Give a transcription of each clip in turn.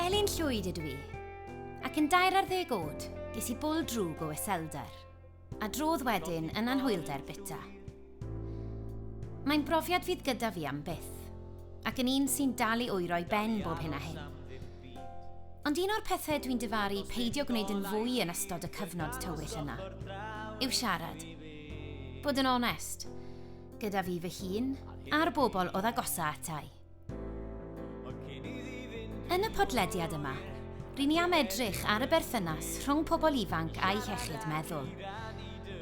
Elin Llwyd ydw i, ac yn dair ar ddeg oed, ges i bwl drwg o iselder, a drodd wedyn yn anhwylder bita. Mae'n brofiad fydd gyda fi am byth, ac yn un sy'n dal i oero'i ben bob hyn a hyn. Ond un o'r pethau dwi'n dyfaru peidio gwneud yn fwy yn ystod y cyfnod tywyll yna yw siarad. Bod yn onest, gyda fi fy hun a'r bobl oedd agosa atai. Yn y podlediad yma, rydyn ni am edrych ar y berthynas rhwng pobl ifanc a'i hechyd meddwl.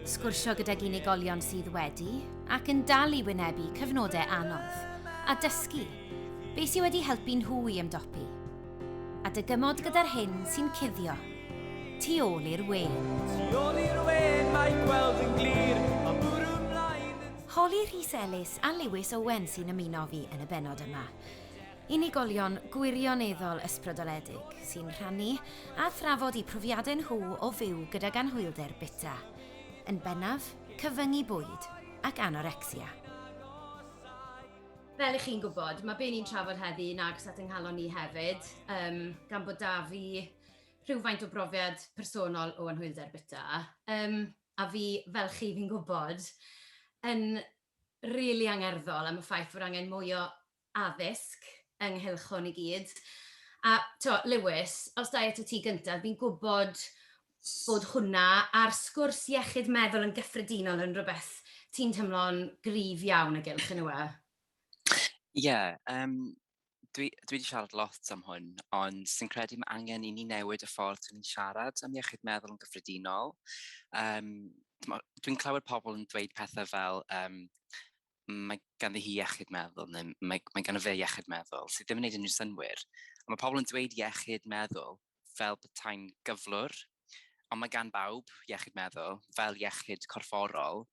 Sgwrsio gydag unigolion sydd wedi ac yn dal i wynebu cyfnodau anodd a dysgu beth sydd wedi helpu nhw i ymdopi. A dy gymod gyda'r hyn sy'n cuddio. Tu ôl i'r we. Tu ôl i'r we, mae gweld yn glir, a bwrw mlaen yn... Holly Rhys Ellis a Lewis Owen sy'n ymuno fi yn y benod yma. Unigolion gwirioneddol ysbrydoledig sy'n rhannu a thrafod i profiadau nhw o fyw gydag anhwylder bita. Yn bennaf, cyfyngu bwyd ac anorecsia. Fel i chi'n gwybod, mae be ni'n trafod heddi yn agos at ynghalon ni hefyd, um, gan bod da fi rhywfaint o brofiad personol o anhwylder bita, um, a fi, fel chi fi'n gwybod, yn rili really angerddol am y ffaith fod angen mwy o addysg ynghylch hwn i gyd. A to, Lewis, os da eto ti gyntaf, fi'n gwybod bod hwnna a'r sgwrs iechyd meddwl yn gyffredinol yn rhywbeth ti'n teimlo'n gryf iawn o gylch, yn yw e? Ie, yeah, um, dwi, dwi wedi siarad lot am hwn, ond sy'n credu mae angen i ni newid y ffordd ni'n siarad am iechyd meddwl yn gyffredinol. Um, Dwi'n clywed pobl yn dweud pethau fel, um, mae ganddi hi iechyd meddwl, neu mae, mae ganddi fe iechyd meddwl, sydd ddim yn gwneud unrhyw synwyr. Ond mae pobl yn dweud iechyd meddwl, fel petai'n gyflwr, ond mae gan bawb iechyd meddwl, fel iechyd corfforol,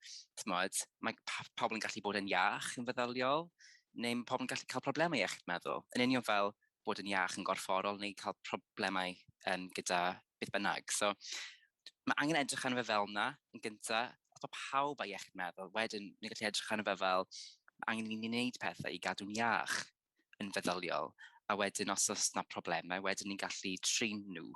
t'mod, mae pa- pobl yn gallu bod yn iach yn feddyliol, neu mae pobl yn gallu cael problemau iechyd meddwl, yn union fel bod yn iach yn gorfforol neu cael problemau um, gyda beth bynnag. So, mae angen edrych arno fe fel yna yn gyntaf, os mae pawb â iechyd meddwl, wedyn ni'n gallu edrych arno fe fel angen i ni wneud pethau i gadw'n iach. yn feddyliol, a wedyn os oes na problemau, wedyn ni'n gallu trin nhw.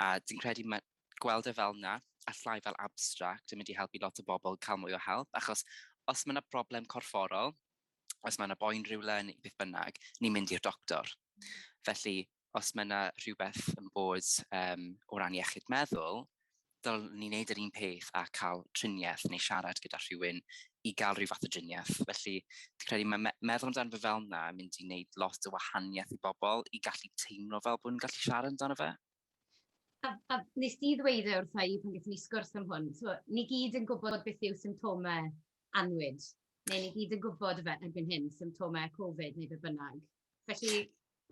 A dwi'n credu mae gweld e fel na, a llai fel abstract, yn mynd i helpu lot o bobl cael mwy o help, achos os mae yna broblem corfforol, os mae yna boen rhywle yn beth bynnag, ni'n mynd i'r doctor. Felly, os mae 'na rhywbeth yn bod um, o ran iechyd meddwl, dylwn ni wneud yr un peth a cael triniaeth neu siarad gyda rhywun i gael rhyw fath o driniaeth. Felly, dwi'n credu mae me meddwl amdano fe fel yna yn mynd i wneud lot o wahaniaeth i bobl i gallu teimlo fel bod nhw'n gallu siarad amdano fe. A, a nes di ddweud e wrtha i pan gyda ni sgwrs am hwn, so, ni gyd yn gwybod beth yw symptomau anwyd, neu ni gyd yn gwybod fe erbyn hyn, symptomau Covid neu beth bynnag. Felly,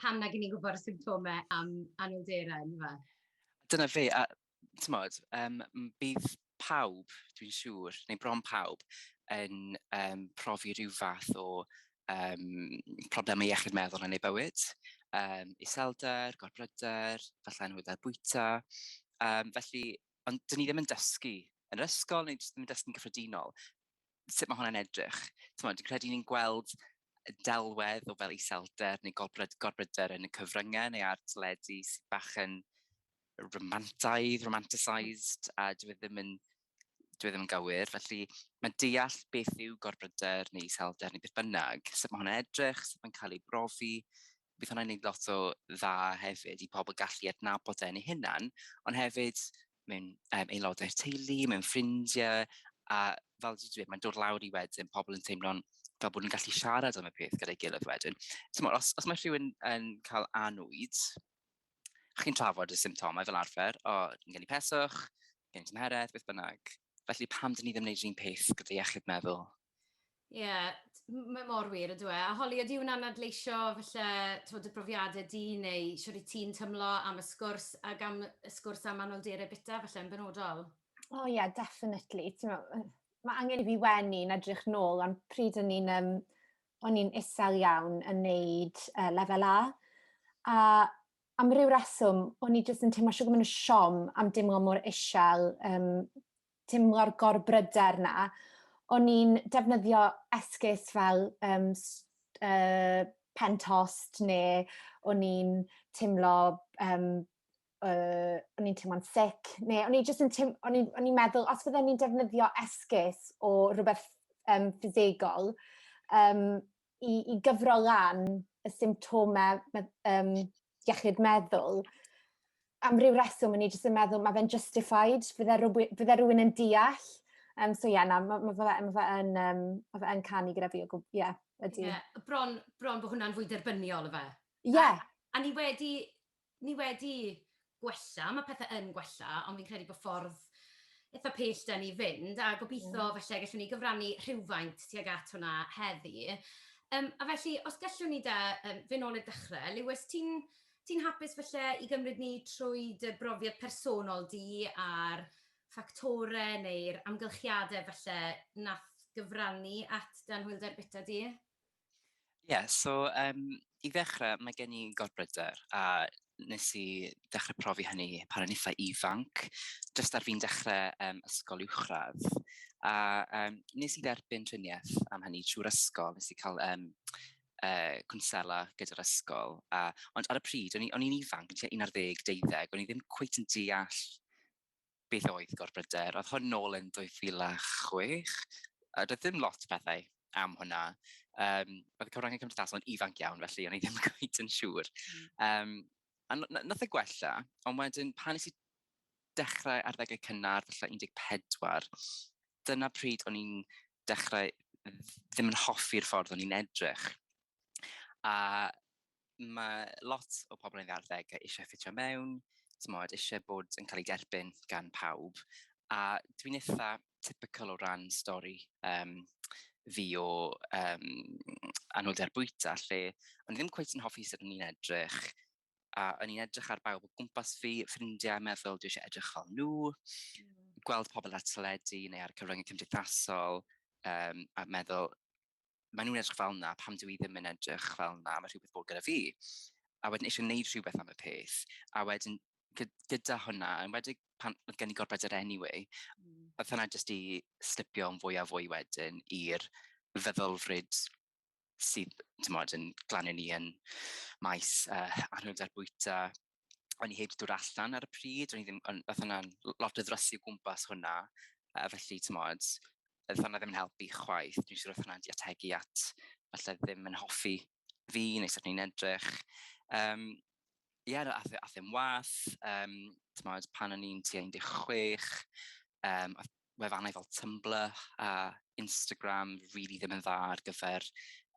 pam nag i ni gwybod y symptomau am anhwylderau, yn dyfe? Dyna fe, a tymod, um, bydd pawb, dwi'n siŵr, neu bron pawb, yn um, profi rhyw fath o um, problemau iechyd meddwl yn ei bywyd. Um, iselder, gorbryder, falle anhwylder bwyta. Um, felly, ond dyn ni ddim yn dysgu yn yr ysgol neu ddim yn dysgu'n gyffredinol sut mae hwnna'n edrych. Dwi'n credu ni'n gweld delwedd o fel iselder neu gorbryder, gorbryder yn y cyfryngau neu ar teledu sy'n bach yn romantaidd, romanticised, a dwi e ddim yn dwi e ddim yn gywir. Felly mae deall beth yw gorbryder neu iselder neu beth bynnag, sut mae hwnna'n edrych, sut mae'n cael ei brofi, bydd hwnna'n gwneud lot o dda hefyd i pobl gallu adnabod e yn ei hunan, ond hefyd mewn um, aelodau'r teulu, mewn ffrindiau, a fel dwi'n dweud, mae'n dod lawr i wedyn pobl yn teimlo'n fel bod nhw'n gallu siarad am y peth gyda'i gilydd wedyn. Tymor, os, os mae rhywun yn cael anwyd, chi'n trafod y symptomau fel arfer, o, yn gen i peswch, gen i tymheredd, beth bynnag. Felly pam dyn ni ddim yn gwneud un peth gyda iechyd meddwl? Ie, mae mor wir yndyw e. A Holly, ydy hwnna'n adleisio falle tywed, dy brofiadau di neu sut i ti'n tymlo am y sgwrs ac am y sgwrs am anolderau bita falle yn benodol? O oh, ie, yeah, definitely. Mae angen i fi wenu yn edrych nôl, ond pryd o'n i'n um, o'n i'n isel iawn yn neud uh, lefel A. A am ryw reswm, o'n i jyst yn teimlo siwg yn siom am dimlo mor isel um, teimlo'r gorbryder 'na, o'n i'n defnyddio esgus fel um, uh, pen tost neu o'n i'n teimlo um, uh, o'n i'n teimlo'n sic neu o'n i'n just yn teim, o'n i'n meddwl os fydden ni'n defnyddio esgus o rhywbeth um, ffisegol um, i, i gyfro lan y symptomau um, iechyd meddwl, am ryw reswm, o'n i jyst yn meddwl, mae fe'n justified, bydde rhywun, bydde rhywun yn deall. Um, so ie, yeah, na, mae ma fe, ma fe yn, um, ma fe yn canu gyda fi o gwbl, ie, yeah, ydy. Yeah, bron, bron bod hwnna'n fwy derbyniol, efe. Ie. Yeah. A, a ni wedi Ni wedi gwella, mae pethe yn gwella, ond fi'n credu bod ffordd eitha pell 'da ni fynd, a gobitho falle gallwn ni gyfrannu rhywfaint tuag at hwnna heddi. Yym, a felly, os gallwn ni 'da, yym, fyn' nôl i'r dechre, Lewis, ti'n ti'n hapus falle i gymryd ni trwy dy brofiad personol di a'r ffactore neu'r amgylchiade falle nath gyfrannu at dy anhwylder bita di? Ie, yeah, so um, i ddechrau, mae gen i gorbryder a nes i dechrau profi hynny pan o'n eitha ifanc, jyst ar fi'n dechrau um, ysgol uwchradd. A um, nes i dderbyn triniaeth am hynny trwy'r ysgol, nes i cael um, uh, cwnsela gyda'r ysgol. A, ond ar y pryd, o'n i'n ifanc, yn tua 11, 12, o'n i ddim cweith yn deall beth oedd gorbryder? Oedd hwn nôl yn 2006, a doedd ddim lot pethau am hwnna. Um, oedd y cyfryngau cymdeithasol yn ifanc iawn, felly o'n i ddim gweud yn siŵr. Um, a nath y e gwella, ond wedyn pan nes i dechrau arddegau cynnar, felly 14, dyna pryd o'n i'n dechrau ddim yn hoffi'r ffordd o'n i'n edrych. A mae lot o pobl yn ddiarddeg eisiau ffitio mewn, tymod, eisiau bod yn cael ei derbyn gan pawb. A dwi'n eitha typical o ran stori um, fi o um, anwylder bwyta, lle o'n ddim cweith yn hoffi sut o'n i'n edrych, a o'n i'n edrych ar bawb o gwmpas fi, ffrindiau, meddwl, dwi eisiau edrych fel nhw, mm. gweld pobl ar teledu neu ar cyfryngau cymdeithasol, um, a meddwl, maen nhw'n edrych fel yna, pam dwi i ddim yn edrych fel yna, mae rhywbeth bod gyda fi. A wedyn eisiau gwneud rhywbeth am y peth. A wedyn gyda hwnna, yn wedi pan oedd gen i gorbed yr anyway, mm. oedd hwnna jyst i slipio yn fwy a fwy wedyn i'r feddylfryd sydd, ti'n modd, yn glanio ni yn maes uh, anhwylder bwyta, o'n i heb dod allan ar y pryd, o'n i ddim, o'n, fath yna'n lot o ddrysu gwmpas hwnna, a felly, ti'n modd, oedd hwnna ddim yn helpu chwaith, dwi'n siŵr oedd hwnna'n di ategu at, falle ddim yn hoffi fi, neu sut ni'n edrych. Um, Ie, yeah, ath, e, ath e'n wath, um, ti'n modd, pan o'n i'n tua 16, um, wefannau fel Tumblr a Instagram rili ddim yn dda ar gyfer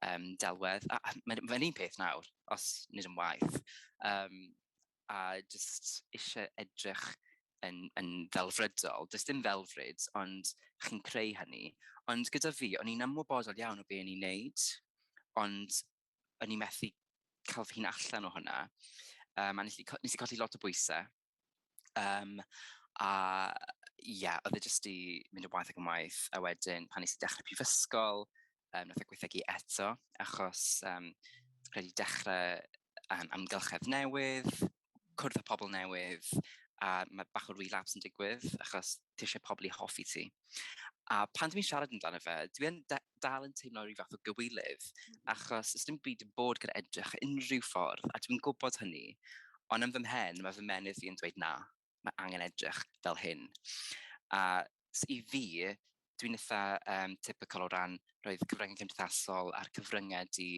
um, delwedd. A, a mae'n ma un peth nawr, os nid yn waith. Um, a jyst eisiau edrych yn, yn ddelfrydol. Does dim ddelfryd, ond chi'n creu hynny. Ond gyda fi, o'n i'n ymwybodol iawn o be o'n i'n neud, ond o'n i'n methu cael fy hun allan o hwnna. Um, a nes i, nes i colli lot o bwysau Um, a ie, yeah, oedd e jyst i mynd o waith ac yn waith, a wedyn pan nes i dechrau prifysgol, um, nath e gweithegu eto, achos um, credu dechrau um, amgylchedd newydd, cwrdd â pobl newydd, a mae bach o relapse yn digwydd, achos ti eisiau pobl i hoffi ti. A pan dwi'n siarad amdano fe, dwi'n dal yn teimlo rhyw fath o gywilydd, mm. achos ys dim byd yn bod gyda edrych unrhyw ffordd, a dwi'n gwybod hynny, ond yn fy mhen, mae fy menydd fi yn dweud na, mae angen edrych fel hyn. A i fi, dwi'n eitha um, typical o ran roedd cyfryngau cymdeithasol a'r cyfryngau di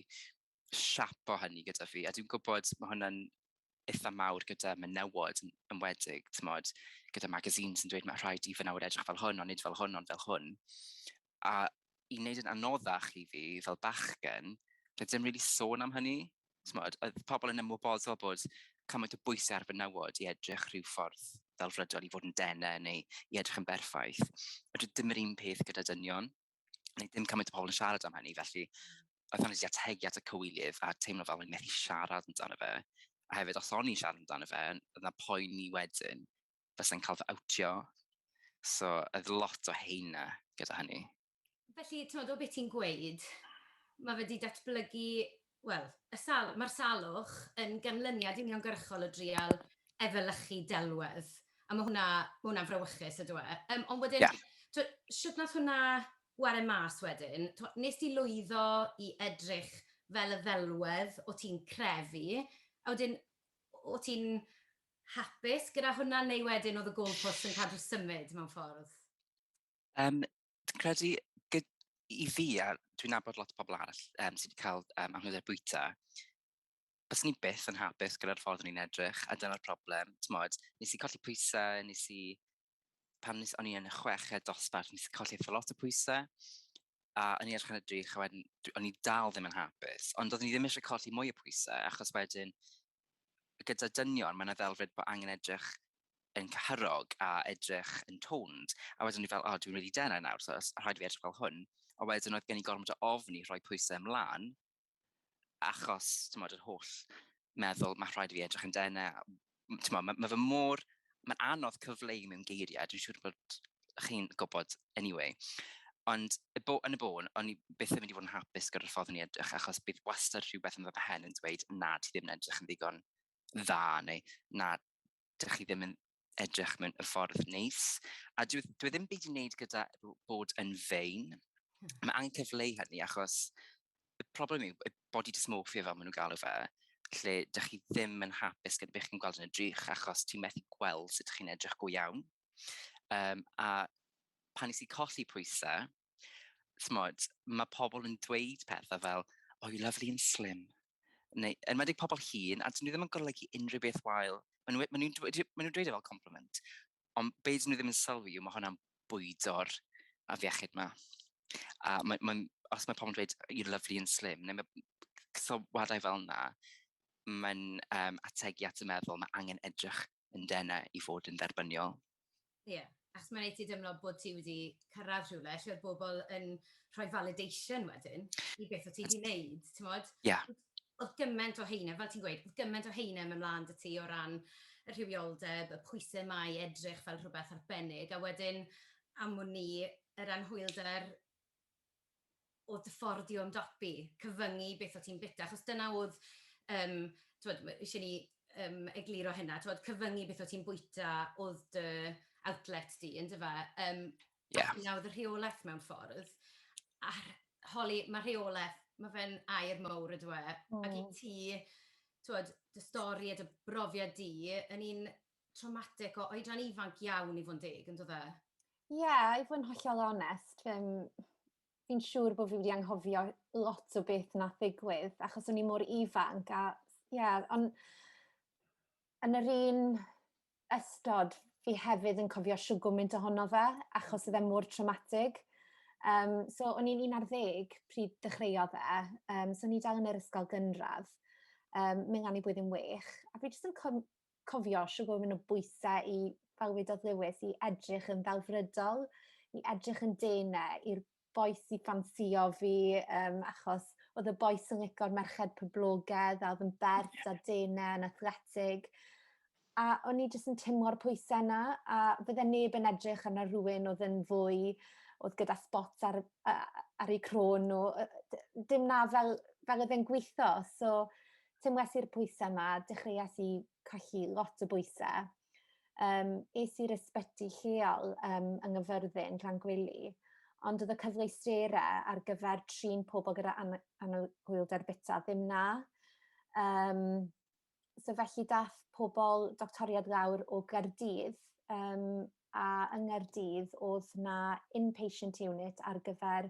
siap o hynny gyda fi, a dwi'n gwybod mae hwnna'n eitha mawr gyda menywod yn enwedig, tymod, gyda magazines yn dweud mae rhaid i fy nawr edrych fel hwn, ond nid fel hwn, ond fel hwn. A i wneud yn anoddach i fi fel bachgen, rydym ddim really sôn am hynny. Tymod, oedd pobl yn ymwybodol bod cymaint o bwysau ar fenywod i edrych rhyw ffordd fel rydol i fod yn denau neu i edrych yn berffaith. Rydym ddim yr un peth gyda dynion. neu dim cymaint o pobl yn siarad am hynny, felly oedd hynny wedi ategu at y cywilydd a teimlo fel o'n methu siarad amdano fe. A hefyd, os o'n i'n siarad amdano fe, oedd yna poen ni wedyn, fes yn cael fy awtio. So, oedd lot o heina gyda hynny. Felly, ti'n meddwl beth ti'n gweud, mae fe wedi datblygu Wel, y sal- mae'r salwch yn ganlyniad uniongyrchol o drial efelychu delwedd, a ma' hwnna, ma' hwnna'n frawychus yndyw e? Yym ond wedyn... Ie. ...t'wo' shwt nath hwnna ware mas wedyn? T'mo' wnest ti lwyddo i edrych fel y ddelwedd o' ti'n crefu, a wedyn o' ti'n hapus gyda hwnna neu wedyn o'dd y goalposts yn cadw symud mewn ffordd? Yym dwi'n credu gyd- i fi, a dwi'n nabod lot o pobl arall um, sydd wedi cael um, anhwylder bwyta, bys ni byth yn hapus gyda'r ffordd o'n i'n edrych, a dyna'r problem. Tmod, nes i colli pwysau, nes i... Pan nes, o'n i yn y chweched dosbarth, nes i colli eitha lot o pwysau, a o'n i edrych yn y drych, a wedyn, o'n i dal ddim yn hapus. Ond oeddwn i ddim eisiau colli mwy o pwysau, achos wedyn, gyda dynion, mae'n ddelfryd bod angen edrych yn cyhyrog a edrych yn toned. A wedyn ni fel, oh, dwi'n really denau nawr, so rhaid i fi edrych fel hwn. A wedyn oedd gen i gormod o ofn i rhoi pwysau ymlaen, achos, ti'n modd, yr holl meddwl, mae rhaid i fi edrych yn denau. Ti'n modd, mae, mae fy môr, mae'n anodd cyfleu mewn geiriau, dwi'n siŵr bod chi'n gwybod anyway. Ond y bo, yn y bôn, o'n i byth yn mynd i fod yn hapus gyda'r ffordd o'n i edrych, achos bydd wastad rhywbeth yn fy mhen yn dweud, na, ti ddim yn edrych yn ddigon dda, neu na, dych chi ddim yn edrych mewn y ffordd neis. A dwi, dwi e ddim byd i wneud gyda bod yn fein. Hmm. Mae angen cyfleu hynny, achos y problem yw y body dysmorphia fel maen nhw'n galw fe, lle dych chi ddim yn hapus gyda beth chi'n gweld yn y drych, achos ti'n methu gweld sut chi'n edrych go iawn. Um, a pan nes i colli pwysau, smod, mae pobl yn dweud pethau fel, oh, you lovely and slim. Neu, yn wedi pobl hun, a dyn nhw ddim yn golygu unrhyw beth wael. Maen nhw'n nhw, nhw, nhw dweud e fel compliment. Ond be dyn nhw ddim yn sylwi yw mae hwnna'n bwydo'r afiechyd yma. A mae, mae, os mae pobl yn dweud, you're lovely and slim, neu mae sylwadau fel yna, mae'n um, ategu at y meddwl, mae angen edrych yn denau i fod yn dderbyniol. Ie, yeah. achos mae'n ei ti dymlo bod ti wedi cyrraedd rhywle, lle oedd bobl yn rhoi validation wedyn i beth o ti wedi wneud, ti'n modd? Ie. Yeah. Oedd gymaint o heine, fel ti'n gweud, oedd gymaint o heine mewn mlaen dy ti o ran y rhywioldeb, y pwysau mae edrych fel rhywbeth arbennig, a wedyn am ni yr anhwylder o dy ffordd di o ymdopi, cyfyngu beth o ti'n bita, achos dyna oedd, yym, t'mod, ma- isie ni, yym, egluro hynna, t'mod, cyfyngu beth o ti'n bwyta oedd dy outlet di, on'd yfe? Yym... Ie. ...a hynna oedd y rheolaeth mewn ffordd, a rh- holi, ma' rheolaeth, ma' fe'n air mowr yndyw e? O. Ac i ti, t'mod, dy stori a dy brofiad di, yn un traumatic o oedran ifanc iawn i fod yn deg, yn dod e? Ie, yeah, i fod yn hollol onest, fi'n fi siŵr bod fi wedi anghofio lot o beth na ddigwydd, achos o'n i mor ifanc, a ie, yeah, ond yn yr un ystod, fi hefyd yn cofio siw gwmynt ohono fe, achos oedd e mor traumatig. Um, so, o'n i'n un ar ddeg pryd dechreuodd e, um, so o'n i dal yn yr ysgol gynradd, um, mynd gan i blwyddyn wych, a fi jyst yn cofio siw bod mynd o bwysau i fel wedodd Lewis, i edrych yn ddelfrydol, i edrych yn dene, i'r boes i ffansio fi, um, achos oedd y boes yn licor merched poblogedd, a oedd yn bert a dene yn athletig. A o'n i jyst yn tymlo'r pwysau yna, a fydde neb yn edrych arno rhywun oedd yn fwy, oedd gyda spots ar, ar ei crôn nhw. Dim na fel, fel oedd e'n gweithio. So, tymwes i'r pwysau 'ma, dechreuais i colli lot o bwysau. Yym, es i'r ysbyty lleol yym yng Nghyffyrddin, Llangwili, ond oedd y cyfleusterau ar gyfer trin pobl gyda ana- anabwyldr bita ddim 'na. Yym, so felly daeth pobl, doctoriaid lawr o Gaerdydd, yym, a yng Nghaerdydd oedd 'na in-patient unit ar gyfer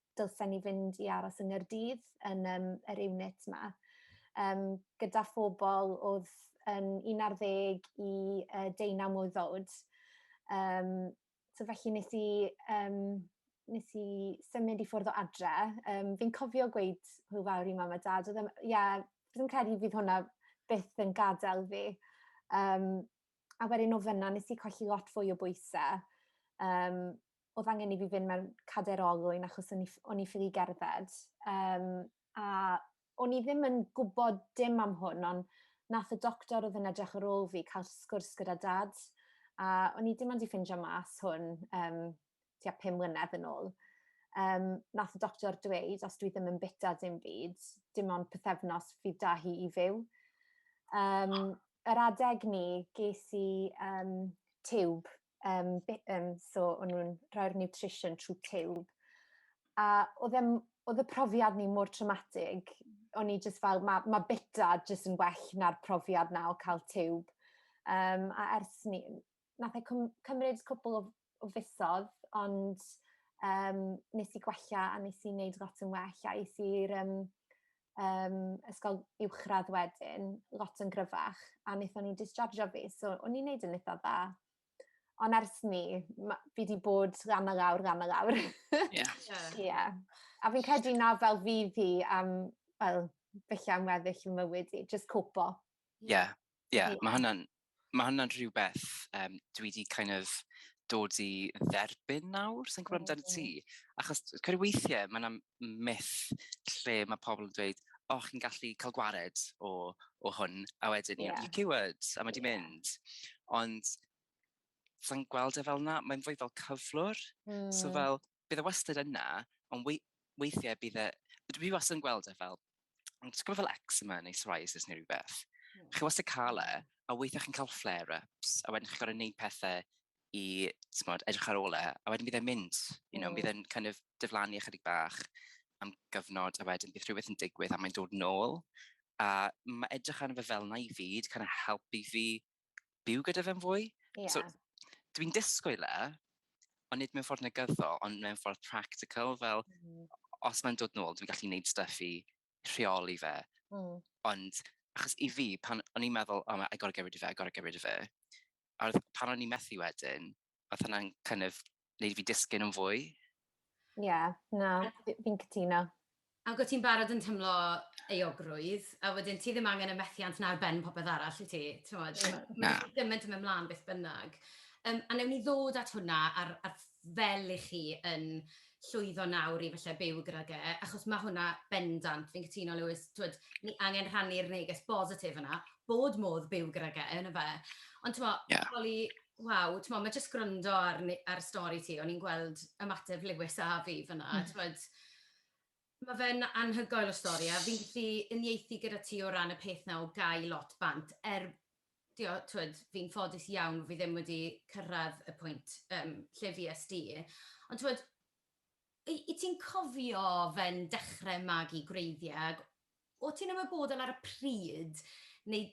dylsen ni fynd i aros yng Nghaerdydd yn yym yr unit 'ma yym gyda phobl o'dd yn un ar ddeg i yy deunaw mlwydd o'd yym so felly nes i yym nes i symud i ffwrdd o adre yym fi'n cofio gweud hwyl fawr i mam a dad o'dd e'n ie fi'n credu fydd hwnna byth yn gadel fi yym a wedyn o fyn 'na nes i colli lot fwy o bwyse yym oedd angen i fi fynd mewn cader olwyn achos o'n i, o'n i ffili gerdded. Um, a o'n i ddim yn gwybod dim am hwn, ond nath y doctor oedd yn edrych ar ôl fi cael sgwrs gyda dad. A o'n i dim ond i ffindio mas hwn um, tua pum mlynedd yn ôl. Um, nath y doctor dweud, os dwi ddim yn bita dim byd, dim ond pethefnos fydd da hi i fyw. Um, yr adeg ni, ges i um, tiwb um, um, so o'n nhw'n rhoi'r nutrition trwy tiwb. A oedd, em, oedd y profiad ni mor traumatig, o'n i jyst fel, mae ma bita jyst yn well na'r profiad na o cael tiwb. Um, a ers ni, nath e cymryd cwbl o, o fusodd, ond um, nes i gwella a nes i wneud lot yn well a es i'r um, um, ysgol uwchradd wedyn, lot yn gryfach, a wnaethon nhw dischargio fi, so o'n i'n neud yn eitha dda. Ond ers ni, fi wedi bod ran a lawr, ran a lawr. Ie. yeah. A fi'n credu na fel fi fi am, fel, felly am weddill y mywyd i, just copo. Ie, yeah. Ie, yeah, mae hwnna'n ma hwnna rhywbeth um, dwi wedi kind of dod i dderbyn nawr, sy'n gwybod amdano ti. Achos credu weithiau, mae yna myth lle mae pobl yn dweud, o, oh, chi'n gallu cael gwared o, o hwn, a wedyn, yeah. you cured, a mae di yeah. mynd. Ond, sa'n gweld e fel yna, mae'n fwy fel cyflwr. Mm. So hmm. fel, bydd e wastad yna, ond wei- weithiau bydd e... Dwi wastad yn gweld e fel, ti'n gwybod fel eczema neu psoriasis neu rhywbeth? Hmm. Chi wastad cael e, a weithiau chi'n cael flare-ups, a wedyn chi'n gorfod gwneud pethau i, ti'n edrych ar ôl e, a wedyn bydd e'n mynd, you know, mm. bydd e'n kind of diflannu ychydig bach am gyfnod, a wedyn bydd rhywbeth yn digwydd a mae'n dod nôl. A mae edrych arno fe fel na i fyd, kind of helpu fi byw gyda fe'n fwy. Yeah. So, dwi'n disgwyl e, ond nid mewn ffordd negyddol, ond mewn ffordd practical, fel mm. os mae'n dod nôl, dwi'n gallu gwneud stuff i rheoli fe. Mm. Ond, achos i fi, pan o'n i'n meddwl, oh, I gotta get rid of it, I gotta get rid of it, a pan o'n i'n methu wedyn, oedd hwnna'n kind of wneud fi disgyn yn fwy. Ie, yeah, na, fi'n cytuno. Ac wyt ti'n barod yn tymlo euogrwydd, a wedyn ti ddim angen y methiant na'r ben popeth arall i ti. Mae'n gymaint yn mynd mlaen beth bynnag. Um, a newn ni ddod at hwnna ar, ar fel i chi yn llwyddo nawr i falle byw gyda ge, achos mae hwnna bendant, fi'n cytuno Lewis, twyd, ni angen rhannu'r neges bositif yna, bod modd byw gyda ge, yna fe. Ond ti'n mo, yeah. Waw, timod, mae jyst gwrando ar ne- ar stori ti, o'n i'n gweld ymateb Lewis a fi fan'na, a t'mod, ma' fe'n anhygoel o stori, a fi'n gallu uniaethu gyda ti o ran y peth 'na o gau lot bant, er, dio- t'mod, fi'n ffodus iawn bo' fi ddim wedi cyrraedd y pwynt, yym, lle fues di, ond t'mod, y- yt ti'n cofio fe'n dechrau magu gwreiddiau, ac o't ti'n ymwybodol ar y pryd, neu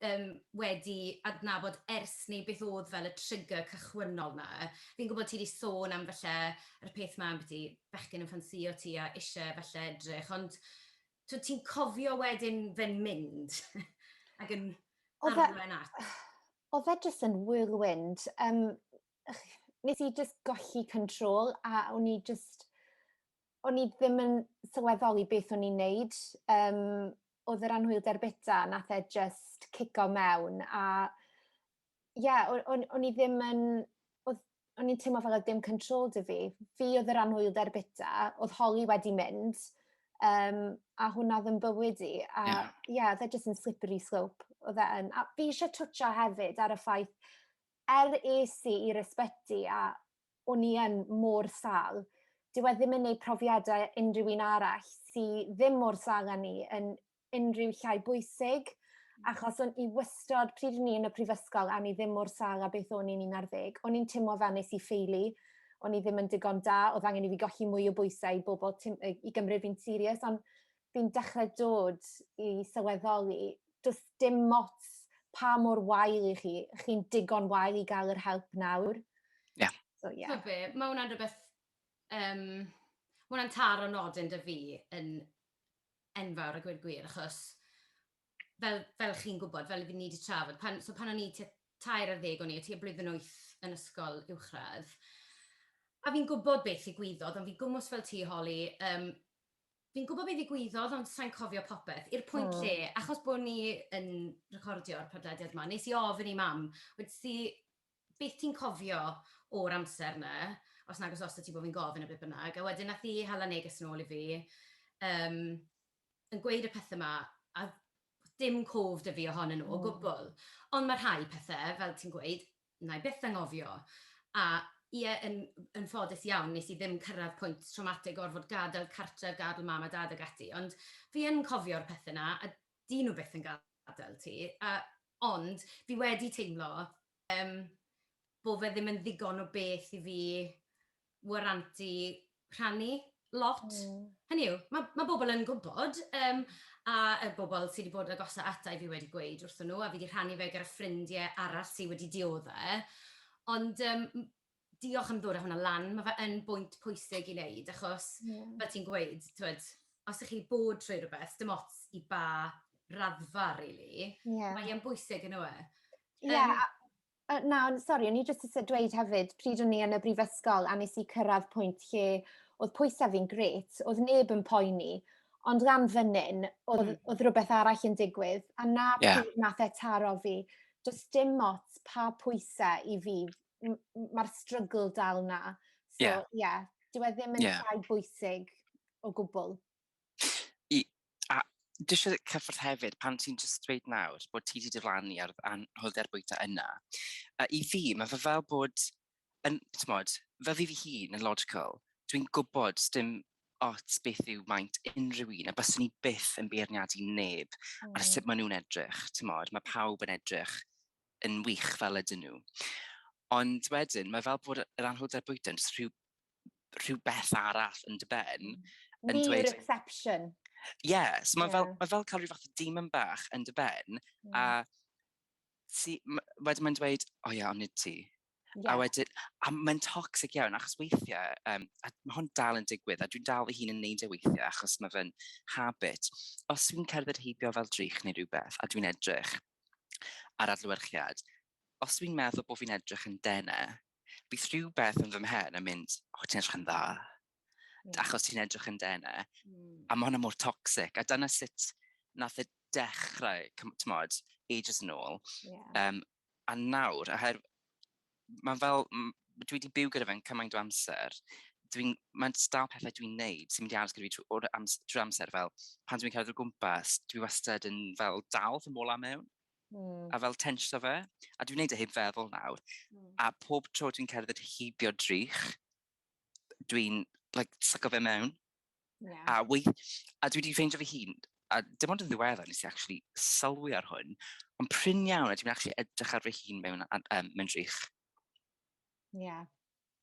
yym wedi adnabod ers 'ny beth o'dd fel y trigger cychwynnol 'na. Fi'n gwbod ti 'di sôn am falle yr peth 'ma ambyti bechgyn yn ffansïo ti a isie falle edrych ond t'wod ti'n cofio wedyn fe'n mynd ag yn O'dd e... arwain at... O'dd e jyst yn whirlwind yym nes i jyst golli control a o'n i jyst o'n i ddim yn sylweddoli beth o'n i'n neud. Um, oedd yr anhwylder bita, nath e just cico mewn. A ie, yeah, o'n i ddim yn... O'n i'n teimlo fel oedd dim control dy fi. Fi oedd yr anhwylder bita, oedd holi wedi mynd, um, a hwnna ddim bywyd i. A ie, yeah. yeah, oedd e just yn slippery slope. Oedd e yn... A fi eisiau twtio hefyd ar y ffaith, er es i i'r ysbyty a o'n i yn mor sal. Dyw e ddim yn neud profiadau unrhyw un arall sy ddim mor sal â ni yn unrhyw llai bwysig, hmm. achos o'n i wystod, pryd o'n i yn y prifysgol, a ni ddim mor sal a beth o'n i'n 11, o'n i'n teimlo fel nes i ffeili, o'n i ddim yn digon da, oedd angen i fi golli mwy o bwysau i bobl i gymryd fi'n serius, ond fi'n dechrau dod i sylweddoli, does dim mots pa mor wael i chi, chi'n digon wael i gael yr help nawr. Ie. Yeah. So, ie. Yeah. be, mae hwnna'n rhywbeth... Um, mae hwnna'n tar o nodyn dy fi yn enfawr a gwir gwir, achos fel, fel chi'n gwybod, fel ni wedi trafod, pan, so pan o'n i tua tair ar ddeg o'n i, o tua blwyddyn wyth yn ysgol uwchradd, a fi'n gwybod beth i gwyddoedd, ond fi gwmwys fel ti, Holly, um, Fi'n gwybod be ddigwyddodd ond sa i'n cofio popeth, i'r pwynt lle, achos bo' ni yn recordio'r podlediad 'ma, wnes i ofyn i Mam, wedes i, beth ti'n cofio o'r amser 'na, os nag os oes 'da ti bo' fi'n gofyn a be bynnag, a wedyn nath hi hala neges nôl i fi yym yn gweud y pethe 'ma, a dim cof 'da fi ohonyn nhw o gwbl, ond ma' rhai pethe, fel ti'n gweud, 'na i byth anghofio, a ie, yn yn ffodus iawn nes i ddim cyrraedd pwynt trawmatig gorfod gadael cartref, gadael mam a dad ag ati, ond fi yn cofio'r pethe 'na a 'dyn nhw byth yn gadael ti, a ond fi wedi teimlo yym bo' fe ddim yn ddigon o beth i fi waranty rhannu lot. Mm. Hynny yw, mae, mae bobl yn gwybod, um, a y bobl sydd wedi bod yn agosau ata i fi wedi gweud wrthyn nhw, a fi wedi rhannu fe gyda ffrindiau arall sydd wedi dioddau. Ond um, diolch am ddod â hwnna lan, mae fe yn bwynt pwysig i wneud, achos yeah. fel ti'n gweud, twed, os ych chi bod trwy rhywbeth, dim ots i ba raddfa, really, yeah. mae'n bwysig yn yw e. Ie, yeah, um, Uh, na, sori, o'n i jyst eisiau dweud hefyd, pryd o'n i yn y brifysgol a nes i cyrraedd pwynt lle oedd pwysau fi'n gret, oedd neb yn poeni, ond lan fynnyn, oedd, mm. oedd rhywbeth arall yn digwydd, a na yeah. pryd nath e taro fi, jyst dim ots pa pwysau i fi, mae'r strygl dal na. So, yeah. yeah, dwi e ddim yn yeah. llai bwysig o gwbl. A dwi eisiau cyffwrdd hefyd, pan ti'n jyst dweud nawr bod ti wedi diflannu ar anhwylder bwyta yna, a i fi, mae fe fel bod, yn, tmod, fel fi fy hun yn logical, dwi'n gwybod sdim ots beth yw maint unrhyw un, a byswn i byth yn beirniadu neb mm. ar sut maen nhw'n edrych, tmod, mae pawb yn edrych yn wych fel ydyn nhw. Ond wedyn, mae fel bod yr anhwylder bwyta yn rhyw rhywbeth arall yn dy ben. Yn New dweud, reception. Yes, mae yeah. fel, ma fel cael rhyw fath o demon bach yn dy ben, mm. a ti, wedyn mae'n dweud, o oh, ia, ond nid ti. Yeah. A wedyn, a mae'n toxic iawn, achos weithiau, um, a mae hwn dal yn digwydd, a dwi'n dal fy hun yn neud e weithiau, achos mae fe'n habit. Os dwi'n cerdded heibio fel drych neu rhywbeth, a dwi'n edrych ar adlywyrchiad, os dwi'n meddwl bod fi'n edrych yn denau, Bydd rhywbeth yn fy mhen yn mynd, o ti'n edrych yn dda. Yeah. Achos ti'n edrych yn dene. Mm. A mae hwnna mor toxic. A dyna sut nath y e dechrau, tymod, ages yn ôl. Yeah. Um, a nawr, a her... Mae'n fel, dwi wedi byw gyda fe'n cymaint o amser, dwi'n, mae'n stael pethau dwi'n neud sy'n mynd i aros gyda fi trwy amser, fel pan dwi'n cerdded o gwmpas, dwi wastad yn fel dal fy mola mewn. Mm. A fel tensio fe. A dwi'n gwneud e heb feddwl nawr. Mm. A pob tro dwi'n cerdded heibio drych, dwi'n like, syco fe mewn. Yeah. A, wei, a dwi wedi ffeindio fy hun, a dim ond yn ddiweddar nes i actually sylwi ar hwn, ond pryn iawn a dwi'n actually edrych ar fy hun mewn, um, mewn drych. Ie. Yeah.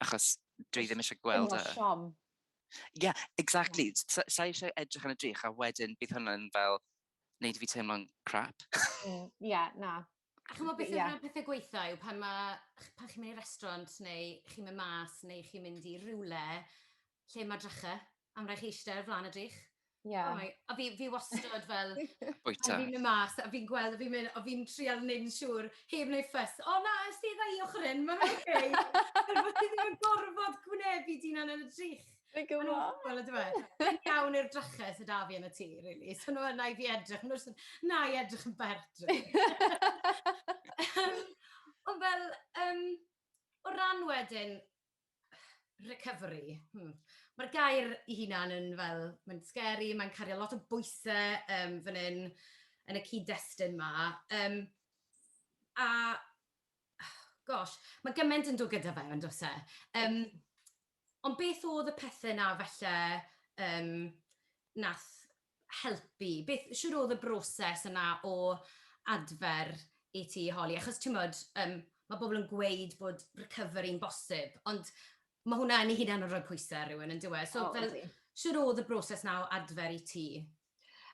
Achos dwi ddim eisiau gweld y... Siom. Yeah, exactly. Yeah. Sa eisiau edrych yn y drych a wedyn bydd hwnna'n fel neud fi teimlo'n crap. Ie, mm, yeah, na. A chymod beth yeah. yw'r pethau gweitha yw pan, ma, pan chi'n mynd i restaurant neu chi'n mynd mas neu chi'n mynd i rywle lle mae dracha, am rhaid chi eistedd ar flaen y drych. Yeah. Oh a fi, fi wastad fel... Bwyta. Fi'n mynd mas, a fi'n gweld, a fi'n mynd, a fi'n trial neud yn siŵr, heb wneud ffys. O na, ystedd i ochr hyn, mae'n oce. Fel bod ti ddim yn gorfod gwneu fi di'n anel y drych. Dwi'n gwybod! Mae'n awful yndyw e? Mae'n iawn i'r drachau sydd 'da fi yn y tŷ, rili. So nhw yna i fi edrych, maen nhw jyst yn, "Na, i edrych yn bert." Yym, ond fel, yym, o ran wedyn recovery, hmm, mae'r gair ei hunan yn fel, mae'n scary, mae'n cario lot o bwysau yym fan hyn, yn y cyd-destun 'ma. Yym, a, gosh, mae gymaint yn dod gyda fe, yn does e? Yym... Ond beth oedd y pethe 'na falle yym nath helpu? Beth... Shwd oedd y broses yna o adfer i ti holi? Achos timod, yym ma' pobl yn gweud bod recovery'n bosib, ond ma' hwnna yn ei hunan yn rhoi pwyse ar rywun yndyw e? O ydi. So fel shwd oedd y broses 'na o adfer i ti?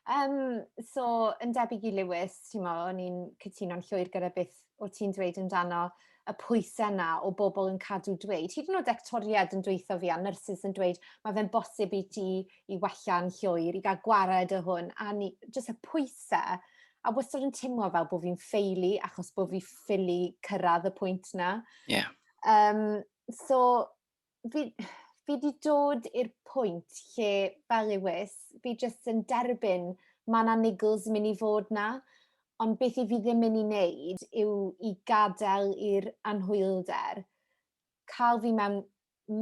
Um, so, yn debyg i Lewis, ti'n mo, o'n i'n cytuno'n llwyr gyda beth o ti'n dweud amdano y pwysau yna o bobl yn cadw dweud. Hyd yn oed actoriad yn dweithio fi a nyrsys yn dweud, mae fe'n bosib i ti i wella'n llwyr, i gael gwared o hwn, a ni, jyst y pwysau. A wastad yn teimlo fel bod fi'n ffeili achos bod fi ffili cyrraedd y pwynt yna. Yeah. Um, so, fi, fi wedi dod i'r pwynt lle fel ywys, fi jyst yn derbyn mae yna niggles yn mynd i fod na, ond beth i fi ddim mynd i wneud yw i gadael i'r anhwylder cael fi mewn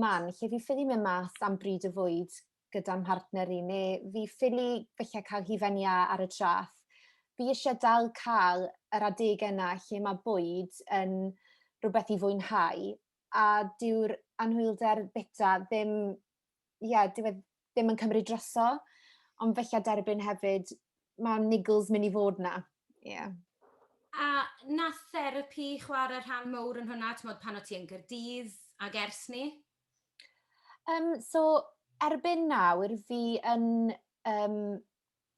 man lle fi ffili mynd mas am bryd o fwyd gyda'n mhartner i, neu fi ffili felly cael hi fenni ar y traff. Fi eisiau dal cael yr adegau yna lle mae bwyd yn rhywbeth i fwynhau a dyw'r anhwylder bita ddim ie dyw e ddim yn cymryd droso ond fella derbyn hefyd ma' niggles myn' i fod 'na. Ie. A nath therapi chware rhan mowr yn hwnna t'mod pan o' ti yn Gaerdydd ag ers 'ny? Yym so erbyn nawr fi yn yym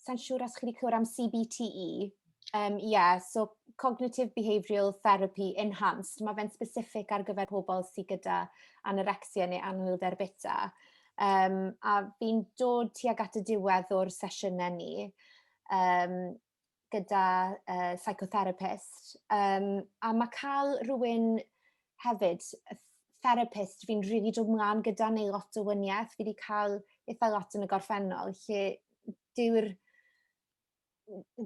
Sa'n siŵr os chi wedi clywed am CBTE. Um, yeah, so Cognitive Behavioural Therapy Enhanced. Mae fe'n specific ar gyfer pobl sydd gyda anorexia neu anhwylder bita. Um, a fi'n dod tuag at y diwedd o'r sesiynau ni um, gyda uh, psychotherapist. Um, a mae cael rhywun hefyd, therapist, fi'n rili really dod mlaen gyda neu lot o wyniaeth, fi wedi cael eitha lot yn y gorffennol, lle dyw'r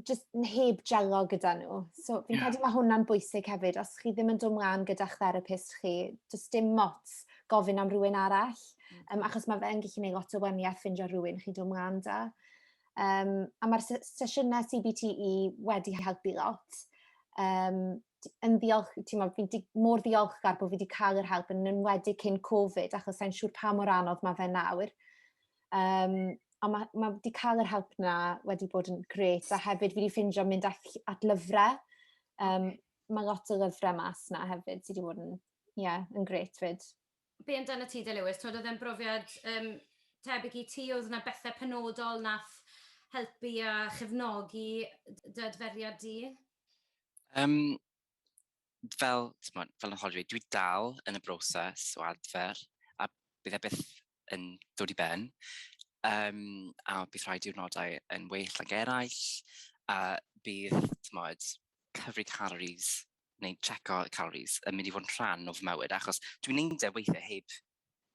just heb jelo gyda nhw. So fi'n yeah. credu mae hwnna'n bwysig hefyd, os chi ddim yn dod mlaen gyda'ch therapist chi, just dim mot gofyn am rhywun arall, um, achos mae fe'n gallu gwneud lot o weniaeth ffindio rhywun chi'n dod mlaen da. Yym, a ma'r se- sesiynau CBTE wedi helpu lot. Yym, d- yn ddiolch... timod, fi'n di- mor ddiolchgar bod fi 'di cael yr help, yn enwedig cyn Covid, achos sa i'n siŵr pa mor anodd mae fe nawr. Yym, a ma' ma' 'di cael yr help 'na wedi bod yn grêt, a hefyd fi 'di ffeindio mynd at ll- at lyfrau. Yym, ma' lot o lyfrau mas 'na hefyd sy 'di bod yn, ie, yn grêt 'fyd. be amdana ti de Lewis, twod oedd e'n brofiad um, tebyg i ti, oedd yna bethau penodol nath helpu a chefnogi dy adferiad di? Um, fel, tmod, fel yn hollwyd, dwi dal yn y broses o adfer a bydd e byth yn dod i ben. Um, a bydd rhai diwrnodau yn well ag eraill a bydd, tmod, cyfri calories neu checo calories yn mynd i fod yn rhan o fy mywyd, achos dwi'n neud e weithiau heb...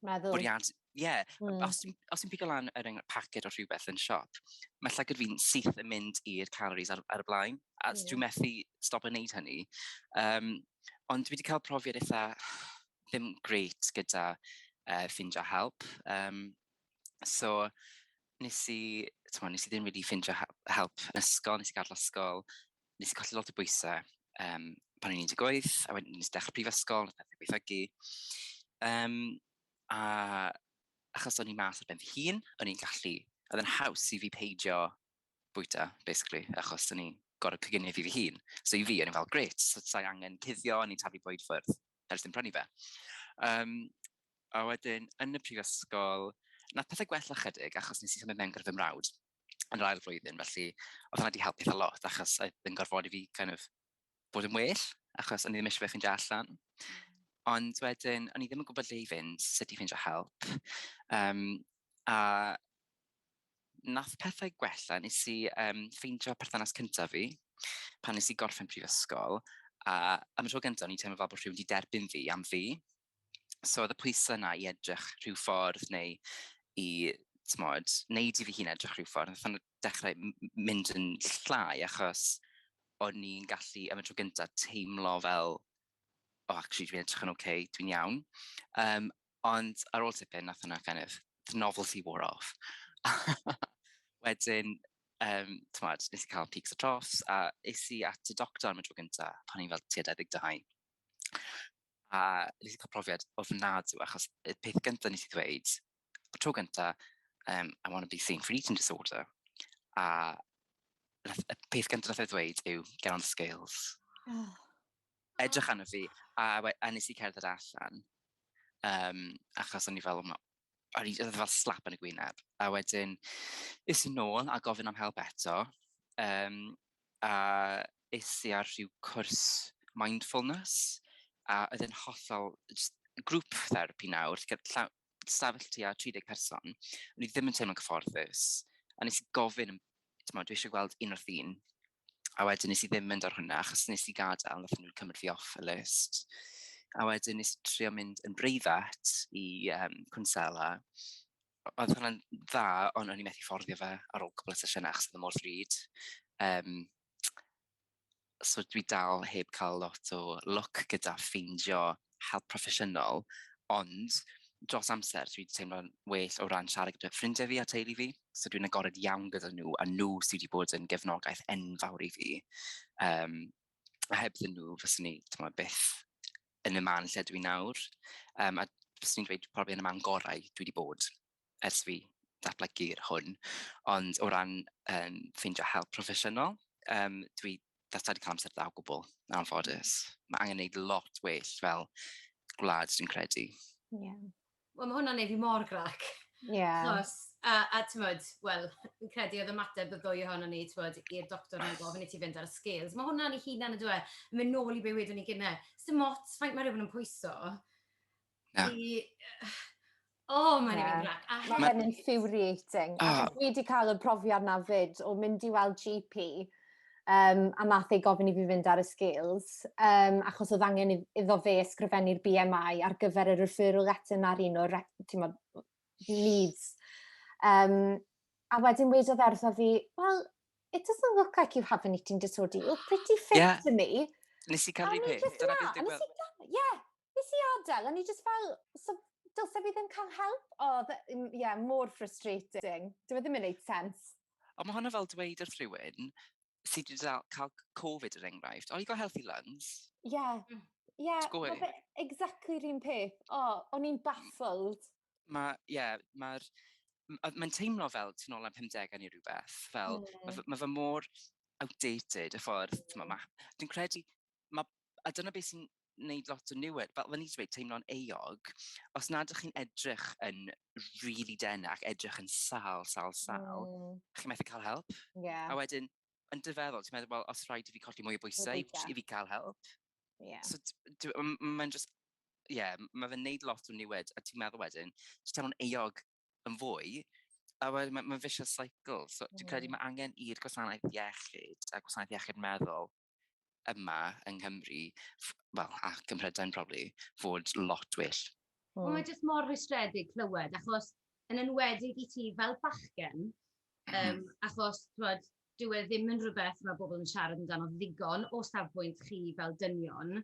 Meddwl. Bwriad, ie. Yeah. Mm. Os, os ti'n pigo lan er enghraifft paced o rhywbeth yn siop, mae llygad fi'n syth yn mynd i'r calories ar, ar y blaen, a yeah. dwi'n methu stop yn neud hynny. Um, ond dwi wedi cael profiad eitha ddim greit gyda uh, ffindio help. Um, so, nes i, twa, nes i ddim wedi ffindio help yn ysgol, nes i gadw ysgol, nes i colli lot o bwysau um, pan o'n i'n 18, a wedyn nes i dechrau prifysgol, nes i gweithiogi. Um, a achos o'n i'n mas ar ben fy hun, o'n i'n gallu, oedd yn haws i fi peidio bwyta, basically, achos o'n i'n gorau coginio fi fy hun. So i fi, o'n i'n fel, gret, so sa'i angen cuddio, o'n i'n tafu bwyd ffwrdd, ers dim prynu fe. Um, a wedyn, yn y prifysgol, na pethau gwella chydig, achos nes i symud mewn gyda fy mrawd. yn yr ail flwyddyn, felly oedd hwnna wedi helpu eitha lot, achos oedd yn gorfod i fi kind of bod yn well, achos o'n i ddim eisiau fe ffeindio allan. Ond wedyn, o'n i ddim yn gwybod lle i fynd, sut i ffeindio help. Um, a nath pethau gwella, nes i um, ffeindio perthynas cyntaf fi, pan nes i gorffen prifysgol, a am y tro gyntaf, o'n i'n teimlo fel bod rhywun wedi derbyn fi am fi. So oedd y pwysau yna i edrych rhyw ffordd neu i, tmod, wneud i fi hun edrych rhyw ffordd. Nath o'n dechrau mynd yn llai achos o'n i'n gallu, am y tro gyntaf, teimlo fel, o, oh, actually, dwi'n edrych yn oce, okay, dwi'n iawn. Um, ond ar ôl tipyn, nath hwnna kind of, the novelty wore off. Wedyn, um, tmod, nes i cael peaks a troughs, a es i at y doctor am y tro gyntaf, pan i'n fel tua 22. a nes i cael profiad ofnadw, achos y peth gyntaf nes i ddweud, y tro gyntaf, um, I want to be seen for eating disorder, a y peth gyntaf nes i ddweud yw, get on the scales. Oh. Edrych arno fi, a, a nes i cerdded allan, um, achos o'n i fel, o'n i fel slap yn y gwyneb. A wedyn, is i nôl a gofyn am help eto. Um, a is i ar rhyw cwrs mindfulness. A oedd yn hollol grŵp therapi nawr, stafell ti a 30 person. O'n i ddim yn teimlo'n cyfforddus. A nes i gofyn timod, dwi eisiau gweld un wrth un. A wedyn nes i ddim mynd ar hwnna, achos nes i gadael, nath nhw'n cymryd fi off y list. A wedyn nes i trio mynd yn breifat i um, cwnsela. Oedd hwnna'n dda, ond o'n i methu fforddio fe ar ôl cwbl o sesiynau, achos oedd y mor ddrud. Um, so dwi dal heb cael lot o lwc gyda ffeindio help proffesiynol, ond dros amser dwi wedi teimlo'n well o ran siarad gyda ffrindiau fi a teulu fi, so dwi'n agored iawn gyda nhw, a nhw sydd wedi bod yn gefnogaeth enfawr i fi. Um, a heb ddyn nhw, fyswn ni, ti'n byth yn y man lle dwi nawr. Um, a fyswn i'n dweud probably yn y man gorau dwi wedi bod. ers fi datblygu'r hwn, ond o ran um, ffeindio help proffesiynol, um, dwi that's wedi cael amser dda o gwbl, yn anffodus. Mae angen gwneud lot well fel gwlad, dwi'n credu. Yeah. Wel, mae hwnna'n neud fi mor grac. Yeah. Chos, a, a ti'n modd, wel, yn credu oedd ymateb y ddwy ohono ni, ti'n modd, i'r doctor yn gofyn i ti fynd ar y scales. Mae hwnna'n ei hunan y dwe, yn mynd nôl i be wedwn ni gynnau. Sdim ots faint mae rhywun yn pwyso, Na. I... O, oh, mae'n yeah. grac. A hefyd... Mae'n infuriating. Oh. Achos dwi wedi cael y profiad na fyd o mynd i weld GP um, a nath ei gofyn i fi fynd ar y scales, um, achos oedd angen iddo fe ysgrifennu'r BMI ar gyfer y referral letter na'r un o'r needs. Um, a wedyn wedodd ertho fi, wel, it doesn't look like you have an eating disorder. You look pretty fit yeah. to me. Nes i cael ei peth. Dyna beth dwi'n gweld. Ie. Nes i adael, a ni just fel, so, dylse fi ddim cael help. O, ie, yeah, mor frustrating. Dwi'n e ddim yn neud sens. Ond mae hwnna fel dweud wrth rhywun sydd wedi cael Covid yr er enghraifft, oh, you got healthy lungs. Ie, mm. ie, exactly rhywun peth. O, o'n i'n baffled. mae, ie, yeah, mae'r... Mae'n teimlo fel tu nôl am 50au neu rhywbeth. Fel, mm. mae, mae fy mor outdated y ffordd, mm. mae, ma, dwi'n credu, ma, a dyna beth sy'n wneud lot o niwed, fel fe ni wedi teimlo'n eog, os nad ydych chi'n edrych yn really dena ac edrych yn sal, sal, sal, mm. chi'n methu cael help. Yeah. A wedyn, yn dy feddwl, ti'n meddwl, well, os rhaid i fi colli mwy o bwysau i fi cael help. Yeah. So, mae'n just, yeah, mae fe'n neud lot o'n niwed, a ti'n meddwl wedyn, ti'n teimlo'n eog yn fwy, a wedyn mae'n ma vicious cycle. So, dwi'n credu mae angen i'r gwasanaeth iechyd a gwasanaeth iechyd meddwl yma yng Nghymru, wel, a Cym Mhrydain probably, fod lot well. Wel, mae jyst mor rhystredig clywed, achos yn enwedig i ti fel bachgen, um, achos twod, dyw e ddim yn rhywbeth mae bobl yn siarad amdano ddigon o safbwynt chi fel dynion.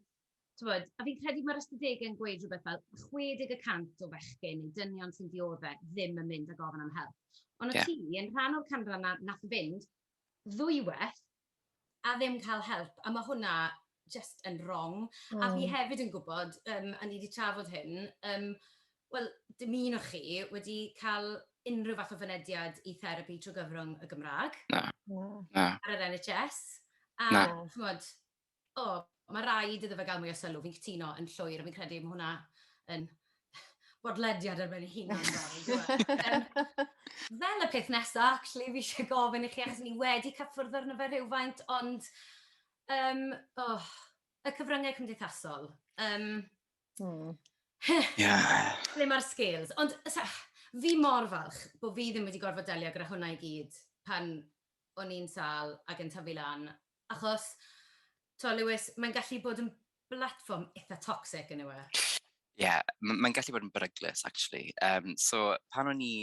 Twod, a fi'n credu mae'r ystadegau yn gweud rhywbeth fel 60 y cant o fechgyn neu dynion sy'n dioddau ddim yn mynd a gofyn am help. Ond o yeah. ti, yn rhan o'r canran na, nath fynd ddwywaith, a ddim cael help, a ma' hwnna jyst yn wrong. A fi hefyd yn gwybod, yym, a ni 'di trafod hyn, yym, wel, dim un o chi wedi cael unrhyw fath o fynediad i therapi trwy gyfrwng y Gymraeg... Na, na. ...ar yr NHS, a chimod, O, mae'n rhaid iddo fe gael mwy o sylw, fi'n cytuno yn llwyr, a fi'n credu mae hwnna yn bodlediad ar ben ei hunan. fel y peth nesaf, actually, fi eisiau gofyn i chi, achos ni wedi cyffwrdd arno fe rhywfaint, ond um, oh, y cyfryngau cymdeithasol. Um, mm. yeah. Ble mae'r scales? Ond sa, fi mor falch bod fi ddim wedi gorfod delio gyda hwnna i gyd pan o'n i'n sal ac yn tyfu lan Achos, t'mo' Lewis, mae'n gallu bod yn blatfform itha toxic yndyw e? Ie, m- mae'n gallu bod yn beryglus actually. Um, so, pan o'n i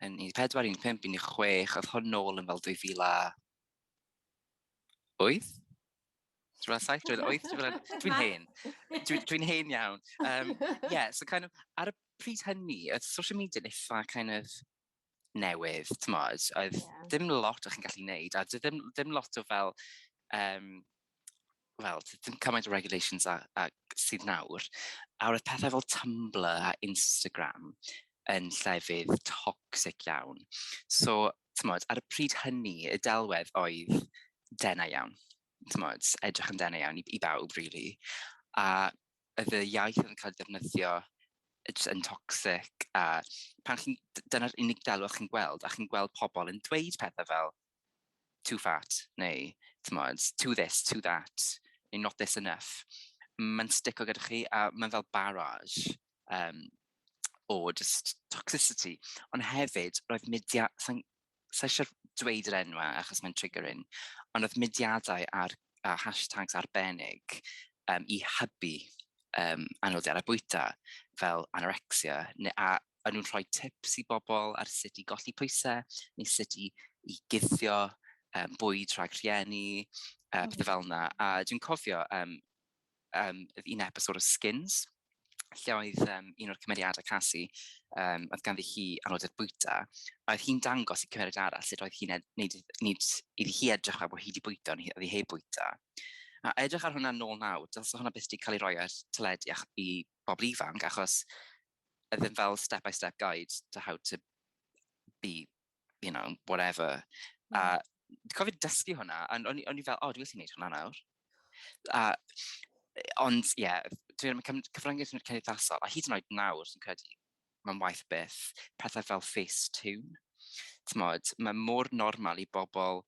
yn 14, 15, 16, oedd hwn nôl yn fel 2008? Dwi'n fel 7, 2008? Dwi'n hen. Dwi'n dwi hen iawn. Um, yeah, so kind of, ar y pryd hynny, oedd social media yn eitha kind of newydd, t'mod? Oedd yeah. dim lot o'ch chi'n gallu neud, a dim, dim lot o fel, um, wel, dim cymaint o regulations a, a sydd nawr. A roedd pethau fel Tumblr a Instagram yn llefydd toxic iawn. So, t'mod, ar y pryd hynny, y delwedd oedd denau iawn. T'mod, edrych yn denau iawn i, i bawb, really. A oedd y iaith oedd yn cael ei ddefnyddio jyst yn toxic a pan chi'n, dyna'r unig delw chi'n gweld a chi'n gweld pobl yn dweud pethau fel too fat neu tmod, too this, too that neu not this enough. Mae'n stico gyda chi a mae'n fel barrage um, o just toxicity. Ond hefyd, roedd media, sa'n sa i isio'r dweud yr enwau achos mae'n triggering, ond oedd mudiadau ar a hashtags arbennig um, i hybu um, anodiadau bwyta fel anorexia, neu, a yn nhw'n rhoi tips i bobl ar sut i golli pwysau, neu sut i, i guddio um, bwyd rhag rhieni, uh, pethau fel yna. A dwi'n cofio um, um, un episod o Skins, lle oedd um, un o'r cymeriadau Cassie, um, oedd ganddi hi anoddau'r bwyta, a oedd hi'n dangos i cymeriad arall sut oedd hi'n neud, neud iddi hi edrych fel bod hi wedi bwyta, ond oedd hi heb bwyta. A edrych ar hwnna nôl nawr, dylse hwnna beth wedi cael ei roi ar teledu i bobl ifanc, achos oedd yn fel step-by-step guide to how to be you know, whatever. Mm. A dwi'n cofio dysgu hwnna, a o'n i fel, o, oh, dwi'n gwneud hwnna nawr. A, ond, ie, yeah, dwi'n mynd cyfryngau sy'n cymdeithasol, a hyd yn oed nawr, sy'n credu, mae'n waith beth, pethau fel face tune. Tmod, mae mor normal i bobl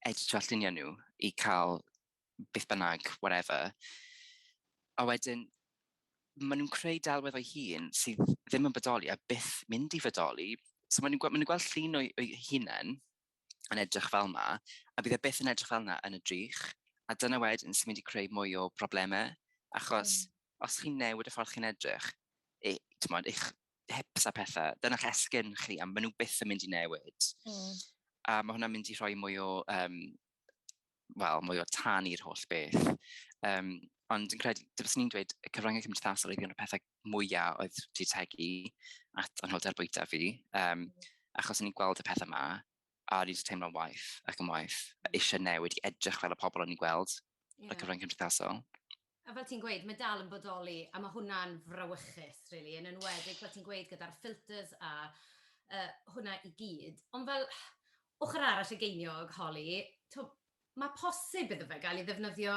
edrych lluniau nhw i cael beth bynnag, whatever. A wedyn, maen nhw'n creu delwedd o'i hun sydd ddim yn bodoli a byth mynd i fodoli. So maen nhw'n gweld, maen nhw gweld llun o'i, o'i hunain yn edrych fel yma, a bydd e byth yn edrych fel yna yn y drych. A dyna wedyn sy'n mynd i creu mwy o broblemau, achos mm. os chi'n newid y ffordd chi'n edrych, e, mod, eich hips a pethau, dyna'ch esgyn chi, a maen nhw byth yn mynd i newid. Mm. A mae hwnna'n mynd i rhoi mwy o um, wel, mwy o tan i'r holl beth. Um, ond yn credu, dyfys ni'n dweud, y cyfryngau cymdeithasol oedd un o'r pethau mwyaf oedd wedi tegu at anholdau'r bwyta fi, um, achos ni'n gweld y pethau yma, a ni'n teimlo'n waith ac yn waith, eisiau newid i edrych fel y pobl o'n i'n gweld yeah. y cyfryngau cymdeithasol. A fel ti'n gweud, mae dal yn bodoli, a mae hwnna'n frawychus, rili, yn enwedig, fel ti'n gweud, gyda'r filters a yy hwnna i gyd. Ond fel, ochr arall y geiniog, Holly, t'wod, mae posib iddo fe gael ei ddefnyddio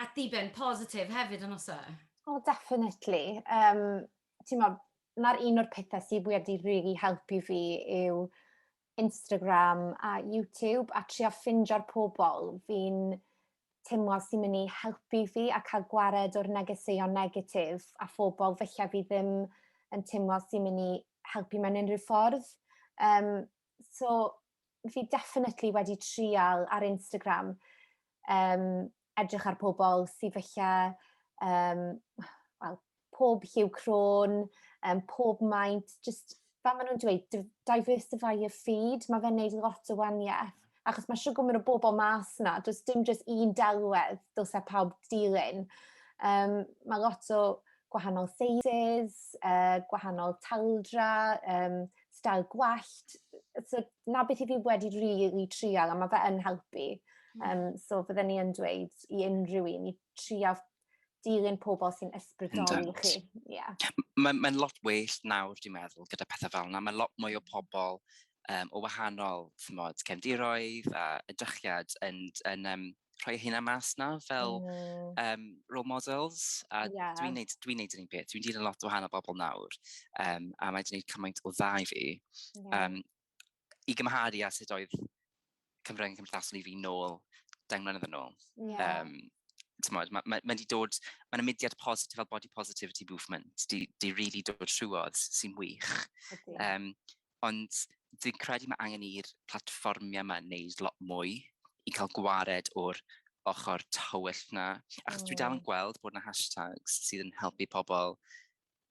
at ddiben positif hefyd, yn oes e? O, definitely. Um, ti'n modd, na'r un o'r pethau sydd wedi rili really helpu fi yw Instagram a YouTube a trio ffindio'r pobl fi'n teimlo sy'n mynd i helpu fi a cael gwared o'r negeseuon negatif a phobl falle fi ddim yn teimlo sy'n mynd i helpu mewn unrhyw ffordd. Um, so fi definitely wedi trial ar Instagram um, edrych ar pobl sydd felly um, well, pob lliw crôn, um, pob maint, just fel maen nhw'n dweud, diversify your feed, mae fe'n neud lot o waniaeth. Achos mae siwgr mynd o bobl mas na, does dim just un delwedd, dylse pawb dilyn. Um, mae lot o gwahanol seizes, uh, gwahanol taldra, um, style gwallt, so 'na beth i fi wedi rili trial a ma' fe yn helpu. Yym hmm. so fydden ni yn dweud i unrhyw un i trial dilyn pobl sy'n ysbrydoli chi. Yeah. Mae'n mae lot well nawr, dwi'n meddwl, gyda pethau fel yna. Mae lot mwy o pobl um, o wahanol tymod, cefndiroedd a edrychiad yn, yn, yn, um, rhoi hynna mas na fel mm. um, role models a yeah. dwi'n neud, dwi neud yr un peth, dwi'n dilyn lot o wahanol bobl nawr um, a mae dwi'n neud cymaint o dda i fi yeah. um, i gymharu a sut oedd Cymru yn cymdeithasol i fi nôl deng mlynedd yn ôl. Yeah. Um, Mae ma, ma, ma dod, mae'n ymudiad positif fel body positivity movement, di, di really dod trwodd sy'n wych. Um, Ond dwi'n credu mae angen i'r platfformiau yma wneud lot mwy i cael gwared o'r ochr tywyll yna. Achos dwi dal yn gweld bod yna hashtags sydd yn helpu pobl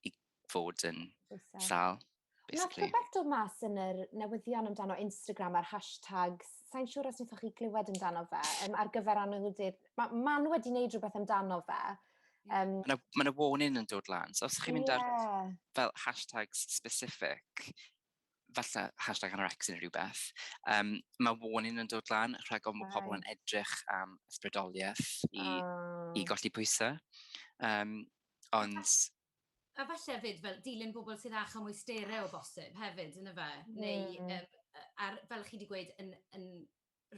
i fod yn sal. Nath rhywbeth dod mas yn yr newyddion amdano Instagram a'r hashtags, sa'n siŵr os wnaethoch chi glywed amdano fe, um, ar gyfer anwyldyd. Mae man wedi wneud rhywbeth amdano fe, Um, Mae yna ma warning yn dod lan, so os chi'n mynd yeah. ar fel hashtags specific, falle hashtag anorex yn rhywbeth, um, mae warning yn dod lan rhag ofn bod pobl yn edrych am ysbrydoliaeth i, oh. i golli pwysau. Um, ond... A, a falle fyd, fel dilyn bobl sydd â mwy stereo o bosib hefyd, yn y fe? Neu, um, ar, fel chi wedi gweud, yn, yn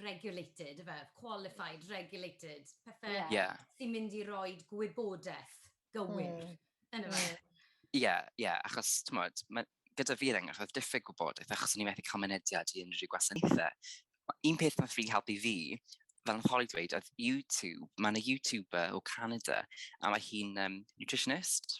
regulated, efe, qualified, regulated, pethau yeah. Yeah. sy'n mynd i roi gwybodaeth gywir mm. yn y fe. Ie, yeah, ie, yeah, achos, ti'n modd, gyda fi rhaid, achos diffyg gwybodaeth, achos o'n i'n methu cael mynediad i unrhyw gwasanaethau. Un peth mae'n ffri helpu fi, fel yn Holly dweud, oedd YouTube, mae'n y YouTuber o Canada, a mae hi'n um, nutritionist,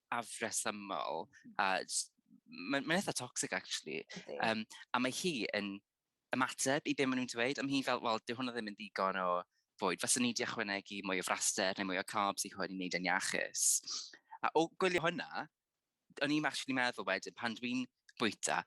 afresymol, a mae'n ma eitha toxic actually, um, a mae hi yn ymateb i be maen nhw'n dweud, a mae hi fel, wel, dyw hwnna ddim yn ddigon o fwyd, fyswn ni wedi ychwanegu mwy o fraster neu mwy o carbs i hwn i wneud yn iachus. A o gwylio hwnna, o'n i'n actually meddwl wedyn, pan dwi'n bwyta,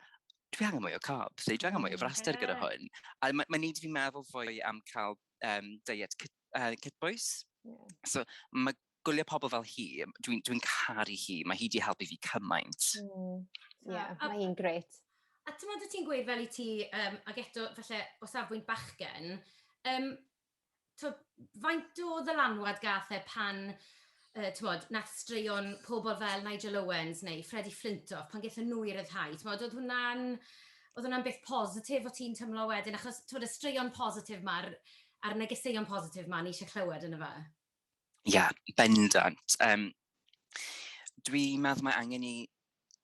dwi angen mwy o carbs, dwi angen mwy o fraster gyda hwn. A mae'n ma neud fi meddwl fwy am cael um, diet cyt, uh, cytbwys. Yeah. So mae gwylio pobl fel hi, dwi'n dwi caru hi, mae hi wedi helpu fi cymaint. Mm. Yeah, mae hi'n gret. A ti'n meddwl ti'n gweud fel i ti, um, ac eto falle o safbwynt bachgen, um, to, faint o ddylanwad gath e pan uh, tmod, nath straeon pobl fel Nigel Owens neu Freddie Flintoff pan gethon nhw i ryddhau. Tmod, oedd hwnna'n oedd hwnna'n beth positif o ti'n tymlo wedyn, achos tmod, y straeon positif mae'r a'r negeseuon positif mae ni eisiau clywed yn y fe? Ie, bendant. Um, Dwi'n meddwl mae angen i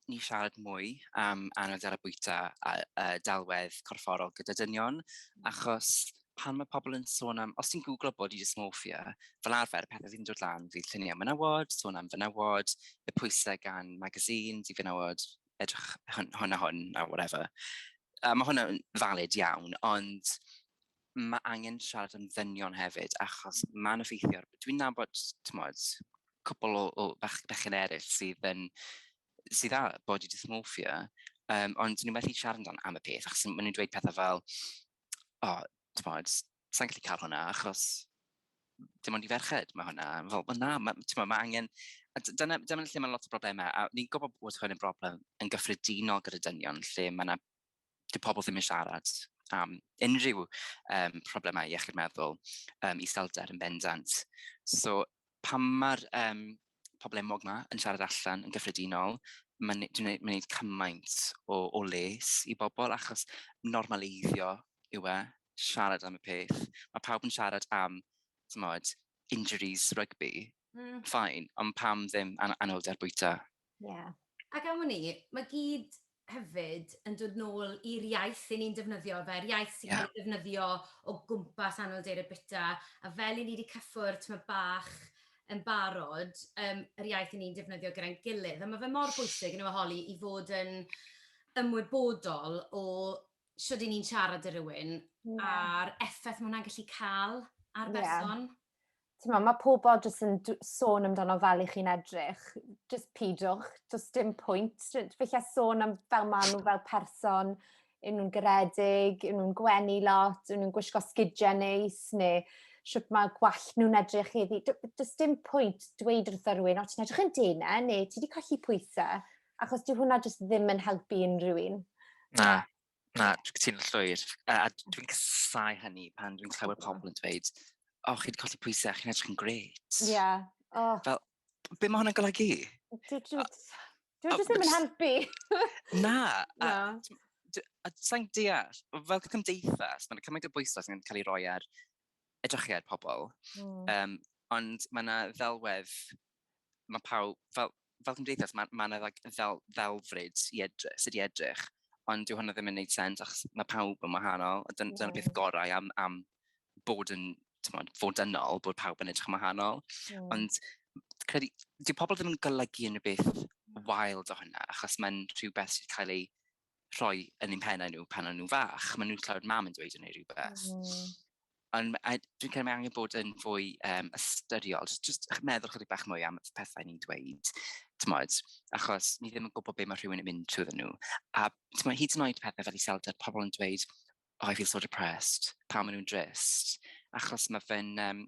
ni siarad mwy am anoddel a bwyta a, a dalwedd corfforol gyda dynion, mm. achos pan mae pobl yn sôn am, os ti'n googlo bod i dysmorphia, fel arfer, pethau sy'n dod lan fydd lluniau menywod, sôn am fenywod, y pwysau gan magazines i fenywod, edrych hwn, hwn a hwn a whatever. A mae hwnna'n valid iawn, ond mae angen siarad yn ddynion hefyd, achos mae'n effeithio. Dwi'n nabod, tmod, cwpl o, o bach, bechyn eraill sydd yn sydd â body dysmorphia, um, ond nhw'n methu siarad amdano am y peth, achos maen nhw'n dweud pethau fel, o, oh, tmod, sa'n gallu cael hwnna, achos dim ond i ferched mae hwnna. Fel, well, na, mae ma angen... A dyna, dyna lle mae lot o broblemau, a ni'n gwybod bod hwn yn broblem yn gyffredinol gyda dynion, lle mae yna 'di pobl ddim yn siarad am unrhyw um, problemau iechyd meddwl, um, iselder yn bendant. So pam mae'r um, pobl enwog yma yn siarad allan yn gyffredinol, mae'n gwneud cymaint o, o les i bobl achos normaleiddio yw e, siarad am y peth. Mae pawb yn siarad am, tymod, injuries rugby, mm. fine, ond pam ddim an anhwylder bwyta? Ie. Ac am wn i, mae gyd hefyd yn dod nôl i'r iaith 'yn ni'n defnyddio fe, yr iaith sy'n cael ei ddefnyddio o gwmpas Anrhydeiriau Bwyta, a fel 'yn ni 'di cyffwrdd tymed bach yn barod, yym yr iaith 'yn ni'n defnyddio gyda'n gilydd, a ma' fe mor bwysig yndyw e Holly, i fod yn ymwybodol o shwd 'yn ni'n siarad 'da rywun a'r effaith ma' hwnna'n gallu ca'l ar berson. ti'n meddwl, mae pobl jyst yn sôn amdano fel i chi'n edrych, jyst pidwch, jyst dim pwynt. Fe lle sôn am fel maen nhw fel person, yn nhw'n garedig, yn nhw'n gwenu lot, yn nhw'n gwisgo sgidiau neis, neu sut mae gwall nhw'n edrych heddi. Does dim pwynt dweud wrth rhywun, o ti'n edrych yn dena, neu ti wedi colli pwysau, achos dyw hwnna jyst ddim yn helpu unrhyw un. Na, Na, dwi'n cytuno llwyr. A, a dwi'n casau hynny pan dwi'n clywed pobl yn dweud, o, chi wedi colli pwysau, chi'n edrych yn gret. Ie. Yeah. Oh. Fel, be mae hwnna'n golygu? Dwi'n just ddim yn helpu. Na. Na. A sa'n deall, fel cymdeithas, mae'n cymaint o bwysau sy'n cael ei roi ar edrychiad pobl. Mm. Um, ond mae yna ddelwedd mae pawb, fel, fel cymdeithas, mae ma yna fel, ddelfryd i edrych, sydd i edrych, ond dyw hwnna ddim yn gwneud sens, achos mae pawb yn wahanol, a dyna, dyna beth gorau am, am bod yn, tymod, fod dynol, bod pawb yn edrych yn wahanol. Mm. Ond, credu, dyw pobl ddim yn golygu unrhyw beth wild o hynna, achos mae'n rhywbeth sydd cael ei rhoi yn ein pennau nhw pan o'n nhw'n fach. Maen nhw'n clywed mam yn dweud yn ei rhywbeth. Mm. Ond dwi'n cael angen bod yn fwy um, ystyriol, just meddwl chydig bach mwy am y pethau ni'n dweud, tymod, achos ni ddim yn gwybod beth mae rhywun yn mynd trwy nhw. A tymod, hyd yn oed pethau fel i selder, pobl yn dweud, Oh I feel so depressed pan maen nhw'n drist, achos mae fe'n yym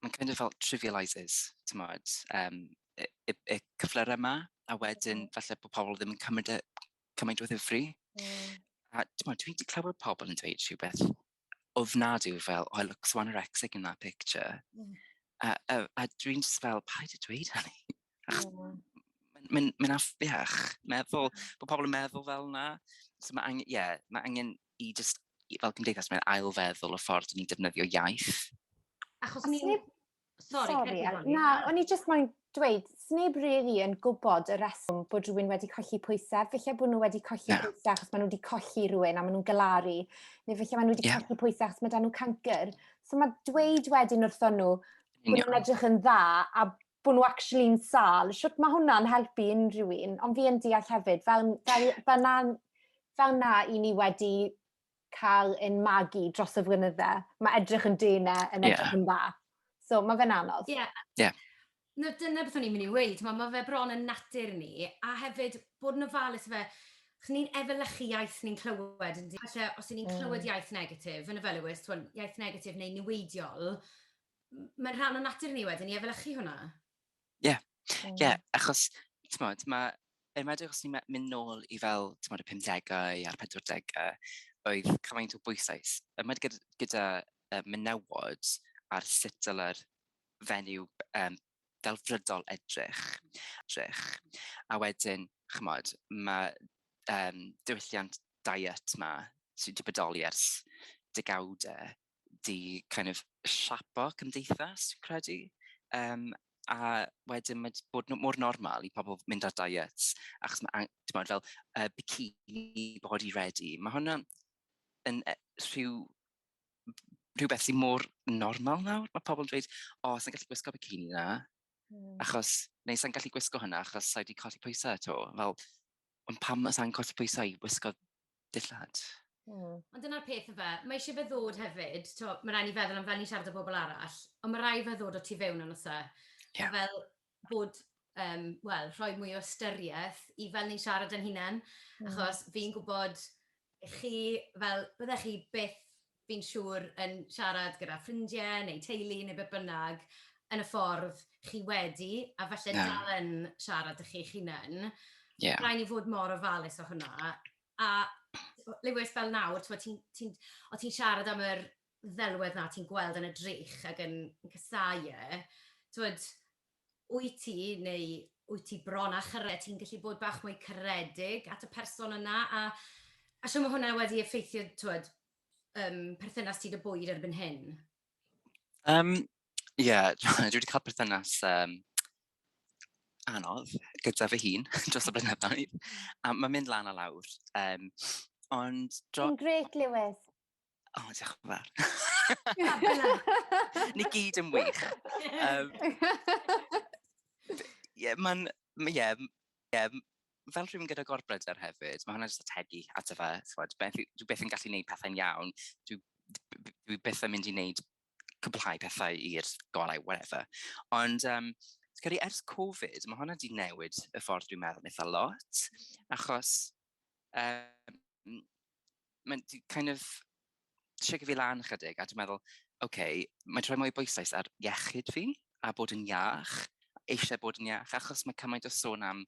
mae'n kind of fel trivialises timod yym y y y cyflyrau 'ma a wedyn falle bod pobl ddim yn cymryd e cymaint o ddifri... mm ...a timod dwi 'di clywed pobl yn dweud rhywbeth ofnadwy fel "oh I look so anorexic in that picture" mm a a a dwi'n jyst fel paid â dweud hynny. Ach, mm. mae'n mynd affiach, meddwl, bod pobl yn meddwl fel yna. So mae angen, ie, yeah, mae angen i just, fel gymdeithas, mae'n ailfeddwl y ffordd ni'n defnyddio iaith. Achos ni... Sorry, Sorry na, o'n i just moyn dweud, sneb really yn gwybod y reswm bod rhywun wedi colli pwysau. Felly bod nhw wedi colli yeah. pwysau achos maen nhw wedi colli rhywun a maen nhw'n galaru. Neu felly maen nhw wedi yeah. colli pwysau achos maen nhw'n cancr. So mae dweud wedyn wrthon nhw, bod nhw'n edrych yn dda a bod nhw actually'n sal, sut mae hwnna'n helpu unrhyw un, ond fi yn deall hefyd, fel, fel, fel, na, fel na i ni wedi cael ein magu dros y flynydde, mae edrych yn dena yn edrych yeah. yn dda. So mae fe'n anodd. Ie. Yeah. Yeah. No, dyna beth o'n i'n mynd i weid, mae, mae fe bron yn natur ni, a hefyd bod yn ofalus fe, chyn ni'n efelychu iaith ni'n clywed, yn di, os ni'n mm. clywed iaith negatif, yn y felywys, iaith negatif neu niweidiol, Mae'n rhan o natur ni wedyn i efelychu hwnna. Ie, ie, achos, tmod, mae, yn enwedig os ni'n mynd nôl i fel, tmod, y 50au a'r 40au, oedd cymaint o bwysais, yn enwedig gyda menywod ar sut dylai'r fenyw um, delfrydol edrych. edrych. A wedyn, chymod, mae um, diwylliant diet ma sy'n wedi bodoli ers degawdau 'di kind of siapo cymdeithas fi'n credu um, a wedyn mae bod mor normal i pobl mynd ar diets achos mae timod fel uh, bikini body ready mae hwnna yn e, rhyw rhywbeth sy'n mor normal nawr mae pobl yn dweud o oh, sa'n gallu gwisgo bikini na mm. achos neu sa'n gallu gwisgo hwnna achos sa'i wedi colli pwysau eto fel Ond pam os angen colli pwysau i wisgo dillad? Mm. Ond dyna'r peth efe, mae eisiau fe ddod hefyd, to, mae rhaid ni feddwl am fel ni'n siarad o bobl arall, ond mae rhaid fe ddod o tu fewn yn osa. Yeah. A fel bod, um, wel, rhoi mwy o ystyriaeth i fel ni'n siarad yn hunain, mm. achos fi'n gwybod chi, fel, byddech chi byth fi'n siŵr, yn siarad gyda ffrindiau neu teulu neu beth bynnag, yn y ffordd chi wedi, a falle yeah. dal yn siarad â chi'ch hunain. Yeah. Rhaid ni fod mor ofalus o hwnna. A Lewis fel nawr, ti'n ti, ti, o ti'n siarad am yr ddelwedd na ti'n gweld yn y drych ac yn, yn cysau e, ti'n wyt ti, neu wyt ti bron â chyrraedd, ti'n gallu bod bach mwy caredig at y person yna, a a shwt mae hwnna wedi effeithio, twed, um, perthynas ti dy bwyd erbyn hyn? Um, Ie, yeah, dwi wedi cael perthynas um, anodd gyda fy hun dros y blynyddoedd. A mae'n mynd lan a lawr. Um, ond... Dro... Yn gret, Lewis. O, oh, diolch yn fawr. Ni gyd yn wych. Um, yeah, mae'n, yeah, yeah, fel rhywun gyda gorbryder hefyd, mae hwnna jyst ategu at y fe, chwod, beth, dwi beth yn gallu gwneud pethau'n iawn, dwi, dwi beth yn mynd i wneud cwblhau pethau i'r golau, whatever. Ond, um, credu ers Covid, mae hwnna wedi newid y ffordd dwi'n meddwl eitha lot, achos um, mae'n kind of siarad fi lan chydig, a dwi'n meddwl, oce, okay, mae troi mwy bwysau ar iechyd fi, a bod yn iach, eisiau bod yn iach, achos mae cymaint o sôn am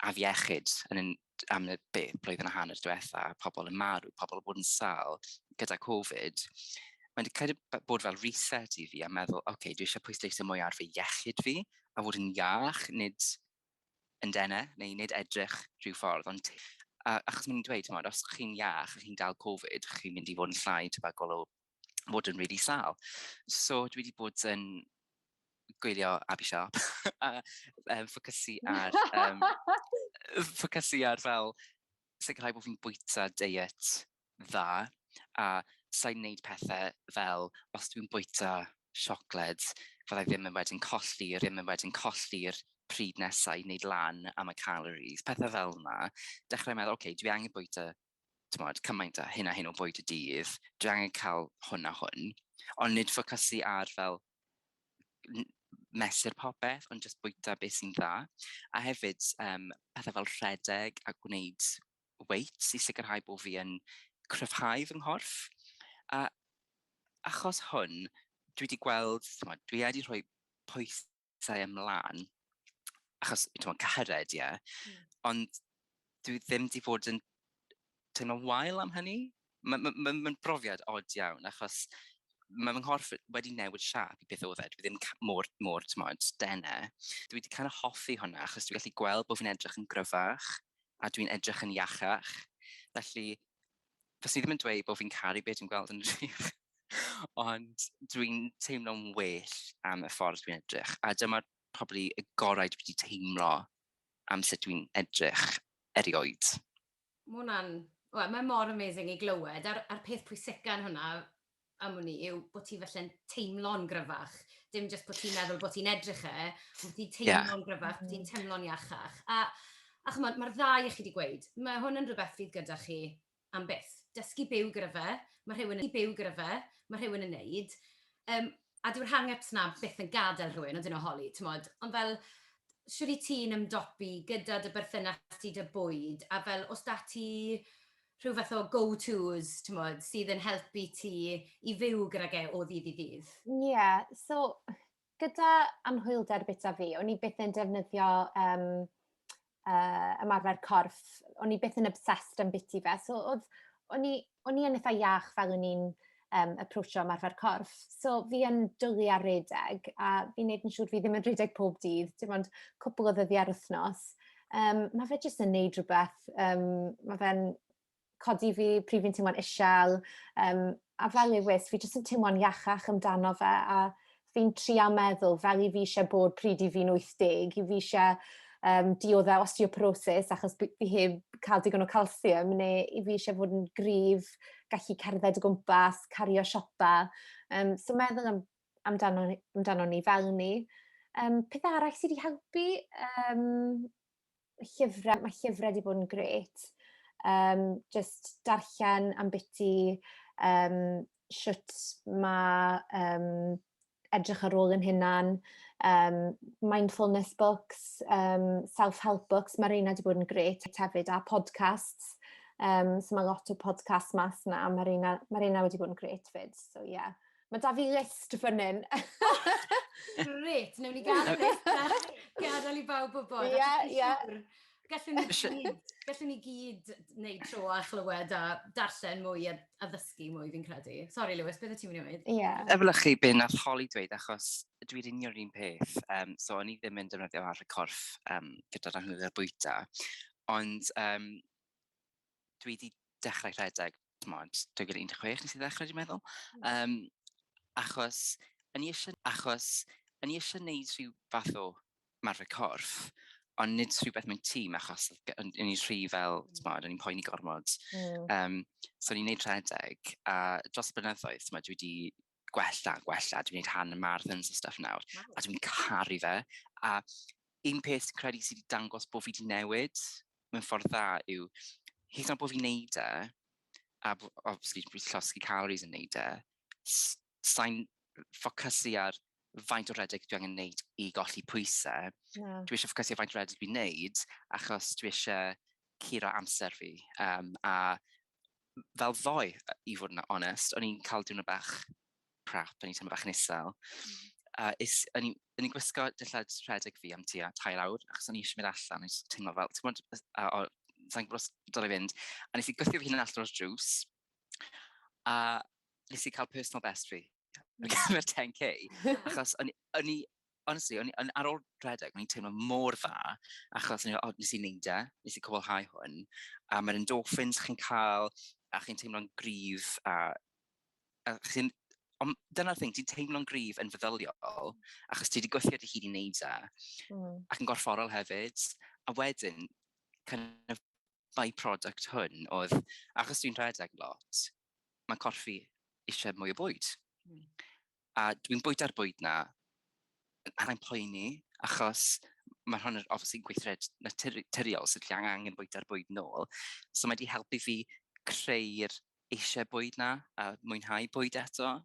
afiechyd yn yn, am y be, blwyddyn a hanner diwetha, pobl yn marw, pobl yn bod yn sal gyda Covid, mae'n cael bod fel reset i fi a meddwl, oce, okay, dwi eisiau pwysleisio mwy ar fy iechyd fi a fod yn iach, nid yn dene, neu nid edrych rhyw ffordd, ond a, achos mae'n dweud, mod, os chi'n iach, chi'n dal Covid, chi'n mynd i fod yn llai tebygol o fod yn really sal. So dwi wedi bod yn gwylio Abby Sharp a um, ffocysu ar um, ffocysu ar fel sicrhau bod fi'n bwyta diet dda a sai'n wneud pethau fel os dwi'n bwyta siocled fydda i ddim yn wedyn colli ddim yn wedyn colli'r pryd nesaf i wneud lan am y calories, pethau fel yma. Dechrau meddwl, oce, okay, dwi angen bwyta tmod, cymaint a hyn a hyn o bwyd y dydd, dwi angen cael hwn a hwn, ond nid ffocysu ar fel mesur popeth, ond jyst bwyta beth sy'n dda. A hefyd, um, pethau fel rhedeg a gwneud weights i sicrhau bod fi yn cryfhau fy nghorff. A achos hwn, dwi wedi gweld, tmod, dwi wedi rhoi pwysau ymlaen, achos, tmod, cyhyrraid, ie, yeah. mm. ond dwi ddim wedi bod yn teimlo'n wael am hynny. mae'n ma, ma, ma brofiad od iawn, achos mae fy nghorff wedi newid siap i beth oedd e. Dwi ddim mor, mor tymod, dene. Dwi wedi cael hoffi hwnna, achos dwi'n gallu gweld bod fi'n edrych yn gryfach, a dwi'n edrych yn iachach. Felly, fes i ddim yn dweud bod fi'n caru beth dwi'n gweld yn rhywbeth. Ond dwi'n teimlo'n well am y ffordd dwi'n edrych. A dyma'r probably y gorau dwi wedi teimlo am sut dwi'n edrych erioed. Ma' hwnna'n, wel, mae mor amazing i glywed, a'r a'r peth pwysica yn hwnna am wn i yw bo' ti falle'n teimlo'n gryfach, dim jyst bo' ti'n meddwl bo' ti'n edrych e, ond bo' ti'n teimlo'n... Ie. ...gryfach, bo' ti'n teimlo'n iachach. A a ch'mod, ma'r ddau o chi 'di gweud, ma' hwn yn rwbeth fydd gyda chi am byth. Dysgu byw gyda fe, ma' rhywun yn byw gyda fe, ma' rhywun yn neud, yym, a dyw'r hang-ups 'na byth yn gadael rhywun, ond dyna holi, timod. Ond fel, shwt wyt ti'n ymdopi gyda dy berthynas di 'da bwyd, a fel, oes 'da ti rhyw fath o go-tos, timod, sydd yn helpu ti i fyw gydag e o ddydd i ddydd? Ie, so gyda anhwylder bita fi, o'n i byth yn defnyddio yym uh, ymarfer corff, o'n i beth yn obsessed am biti fe, so oedd, o'n i, o'n i yn eitha iach fel o'n i'n um, approachio ymarfer corff, so fi yn dwlu ar redeg, a fi'n neud yn siŵr fi ddim yn redeg pob dydd, dim ond cwpl o ddyddiau ar wythnos. Um, mae fe jyst yn neud rhywbeth, um, mae fe'n codi fi pryd fi'n teimlo'n isel, um, a fel Lewis, fi jyst yn teimlo'n iachach amdano fe, a fi'n trio meddwl fel i fi eisiau bod pryd i fi'n 80, i fi eisiau um, dioddau osteoporosis achos fi heb cael digon o calsiwm, neu i fi eisiau fod yn gryf, gallu cerdded o gwmpas, cario siopa. Um, so meddwl am, amdano, amdano ni fel ni. Um, peth arall sydd wedi helpu, um, llyfrau, mae llyfrau wedi bod yn gret. Um, just darllen am biti um, sut mae um, edrych ar ôl yn hynna'n um, mindfulness books, um, self-help books, mae reina wedi bod yn gret hefyd, a podcasts. Um, so mae lot o podcasts mas na, mae reina, mae reina wedi bod yn gret fyd, so ie. Yeah. Mae da fi list fan hyn. Gret, newn ni gael list a gadael i bawb wybod. Ie, ie. Gallwn ni gyd, gallwn ni gyd wneud tro a chlywed a darllen mwy a, a ddysgu mwy fi'n credu. Sorry Lewis, beth y ti'n mynd i wneud? Ie. Yeah. Efelychu be nath Holly dweud achos dwi'n union un peth, um, so o'n i ddim yn defnyddio arfer corff um, gyda'r anhwylder bwyta. Ond um, dwi wedi dechrau rhedeg, tmod, 2016 nes i ddechrau dwi'n meddwl. Um, achos, yn i eisiau, achos, yn i eisiau neud rhyw fath o marfer corff, ond nid rhywbeth mewn tîm, achos yn i'n rhy fel, mm. tmod, yn i'n poeni gormod. Mm. Um, so, ni'n neud rhedeg, a dros y blynyddoedd, tmod, dwi wedi gwella, gwella, dwi'n gwneud hand marathons a stuff nawr, a dwi'n caru fe. A un peth sy'n credu sydd wedi dangos bod fi wedi newid mewn ffordd dda yw, hyd yn bod fi'n neud e, a obviously dwi'n llosgi calories yn neud e, sa'n ffocysu ar faint o redeg dwi angen neud i golli pwysau. Yeah. Dwi eisiau ffocysu ar faint o redeg dwi'n neud, achos dwi eisiau curo amser fi. Um, a fel ddoe, i fod yn onest, o'n i'n cael diwrnod bach crap, o'n i'n teimlo bach yn isel. Uh, is, o'n i'n gwisgo dillad rhedeg fi am tua tair awr, achos o'n i eisiau mynd allan, o'n i'n teimlo fel, ti'n gwybod, uh, o, sa'n gwybod dod i fynd, a nes i gwythio fi hyn allan o'r drws, a nes i cael personal best fi, ar gyfer 10k, achos o'n i, honestly, o'n, on, ar ôl rhedeg, o'n i'n teimlo mor dda, achos o'n i'n oh, nes i wneud e, nes i cwblhau hwn, a mae'r endorphins chi'n cael, a chi'n teimlo'n gryf, a, a chi'n... Ond dyna'r thing, ti'n teimlo'n gryf yn feddyliol, achos ti wedi gweithio dy hun i wneud e, mm. ac yn gorfforol hefyd, a wedyn, kind of by-product hwn oedd, achos dwi'n rhedeg lot, mae corff fi eisiau mwy o bwyd. Mm. a dwi'n bwyta'r bwyd na, a rwy'n poeni, achos mae hwn yn obviously yn gweithred naturiol, so dwi angen bwyta'r bwyd nôl. So mae wedi helpu fi creu'r eisiau bwyd na, a mwynhau bwyd eto.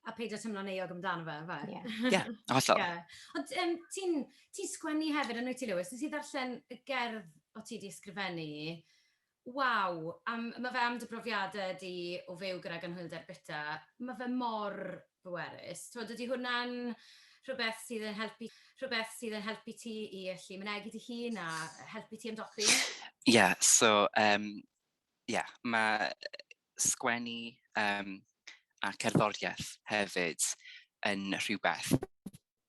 A peidio teimlo'n euog amdano fe, fe? Ie, yeah. yeah, hollol. Yeah. Ond um, ti'n ti sgwennu hefyd yn wyt ti, Lewis? Nes i ddarllen y gerdd o ti di ysgrifennu Waw! Am, ma' fe am dy brofiade di o fyw gydag anhwylder bita. Ma' fe mor bwerus. T'mod, ydy hwnna'n rhywbeth sydd yn helpu, rhywbeth sydd yn helpu ti i allu mynegi dy hun a helpu ti ymdopi? Ie, so yym ie, ma' sgwennu yym a cerddorieth hefyd yn rhywbeth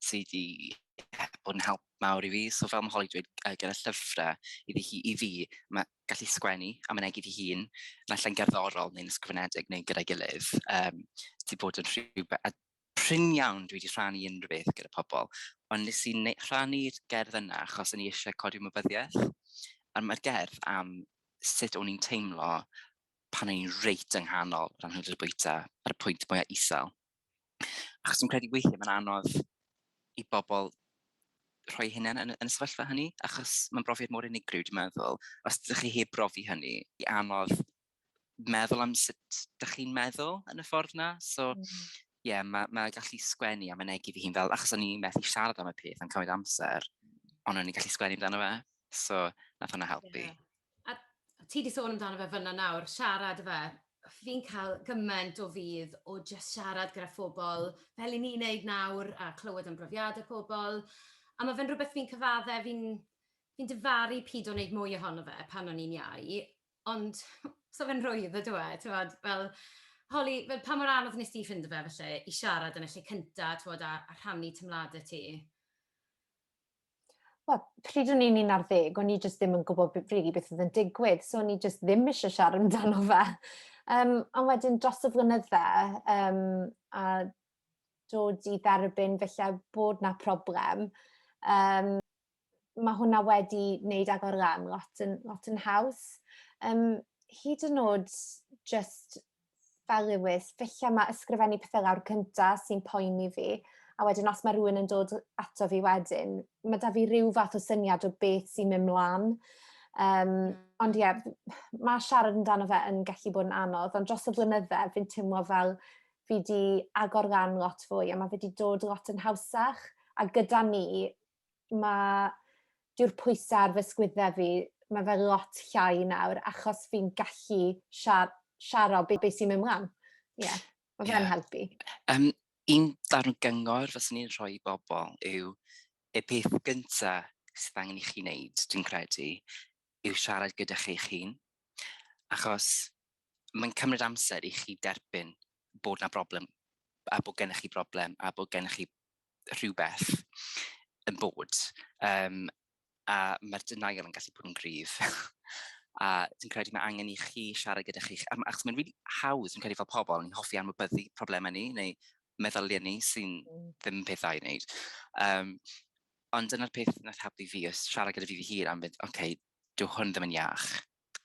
sy 'di bod yn help mawr i fi. So fel mae Holly dweud uh, gyda llyfrau, iddi hi, i fi, mae gallu sgwennu a mynegu fi hun, yn allan gerddorol neu'n ysgrifenedig neu gyda'i gilydd, um, wedi bod yn rhywbeth, a prin iawn dwi wedi rhannu unrhyw beth gyda pobl, ond nes i rhannu'r gerdd yna achos o'n i eisiau codi ymwybyddiaeth. A mae'r gerdd am sut o'n i'n teimlo pan o'n i'n reit yng nghanol yr anhwylder bwyta ar y pwynt mwyaf isel. Achos dwi'n credu weithiau mae'n anodd i bobl rhoi hynny yn, yn y sefyllfa hynny, achos mae'n brofiad mor unigryw, dwi'n meddwl. Os ydych chi heb brofi hynny, i anodd meddwl am sut ydych chi'n meddwl yn y ffordd na. So, mm. yeah, mae ma gallu sgwennu a mynegu fi hun fel, achos o'n i'n methu siarad am y peth yn cymryd amser, ond o'n i'n gallu sgwennu amdano fe. So, nath hwnna helpu. Yeah. A ti 'di sôn amdano fe fan'na nawr, siarad ife. Fi'n cael gymaint o fudd o jyst siarad gyda phobl, fel 'yn ni'n neud nawr, a clywed am brofiadau pobl, a ma' fe'n rwbeth fi'n cyfadde, fi'n fi'n difaru pido neud mwy ohono fe pan o'n i'n iau, ond 'sa fe'n rhwydd yndyw e, t'mod, fel holi, fel pa mor anodd wnest ti ffindo fe falle i siarad yn y lle cynta, t'mod, a a rhannu teimladau ti? Wel, pryd o'n i'n un ar ddeg, o'n i jyst ddim yn gwybod rili beth oedd yn digwydd, so o'n i jyst ddim eisiau siarad amdano fe. Um, ond wedyn dros y flynydde, um, a dod i dderbyn felly bod na problem, um, mae hwnna wedi wneud agor lan lot yn, lot yn haws. Um, hyd yn oed just fel Lewis, felly mae ysgrifennu pethau lawr cynta sy'n poeni fi, a wedyn os mae rhywun yn dod ato fi wedyn, mae da fi rhyw fath o syniad o beth sy'n mynd mlaen. Um, ond ie, yeah, mae siarad amdano fe yn gallu bod yn anodd, ond dros y blynydde fi'n teimlo fel fi wedi agor lan lot fwy a mae fi wedi dod lot yn hawsach a gyda ni mae dyw'r pwysau ar fy sgwyddau fi, mae fe lot llai nawr achos fi'n gallu siar, siaro beth be sy'n mynd mlaen. Ie, yeah, mae yeah. fe'n helpu. Um, un darn gyngor fyswn ni'n rhoi i bobl yw y peth gyntaf sydd angen i chi wneud, dwi'n credu, yw siarad gyda chi'ch hun. Achos mae'n cymryd amser i chi derbyn bod na broblem a bod gennych chi broblem a bod gennych chi rhywbeth yn bod, um, a mae'r denial yn gallu bod yn gryf. a dwi'n credu mae angen i chi siarad gyda chi'ch... Achos mae'n rili really hawdd, dwi'n credu fel pobl, ni'n hoffi anwybyddu problemau ni, neu meddyliau ni sy'n mm. ddim pethau i wneud. Um, ond dyna'r peth nath helpu fi, ys siarad gyda fi fy hun am fynd, oce, okay, dyw hwn ddim yn iach.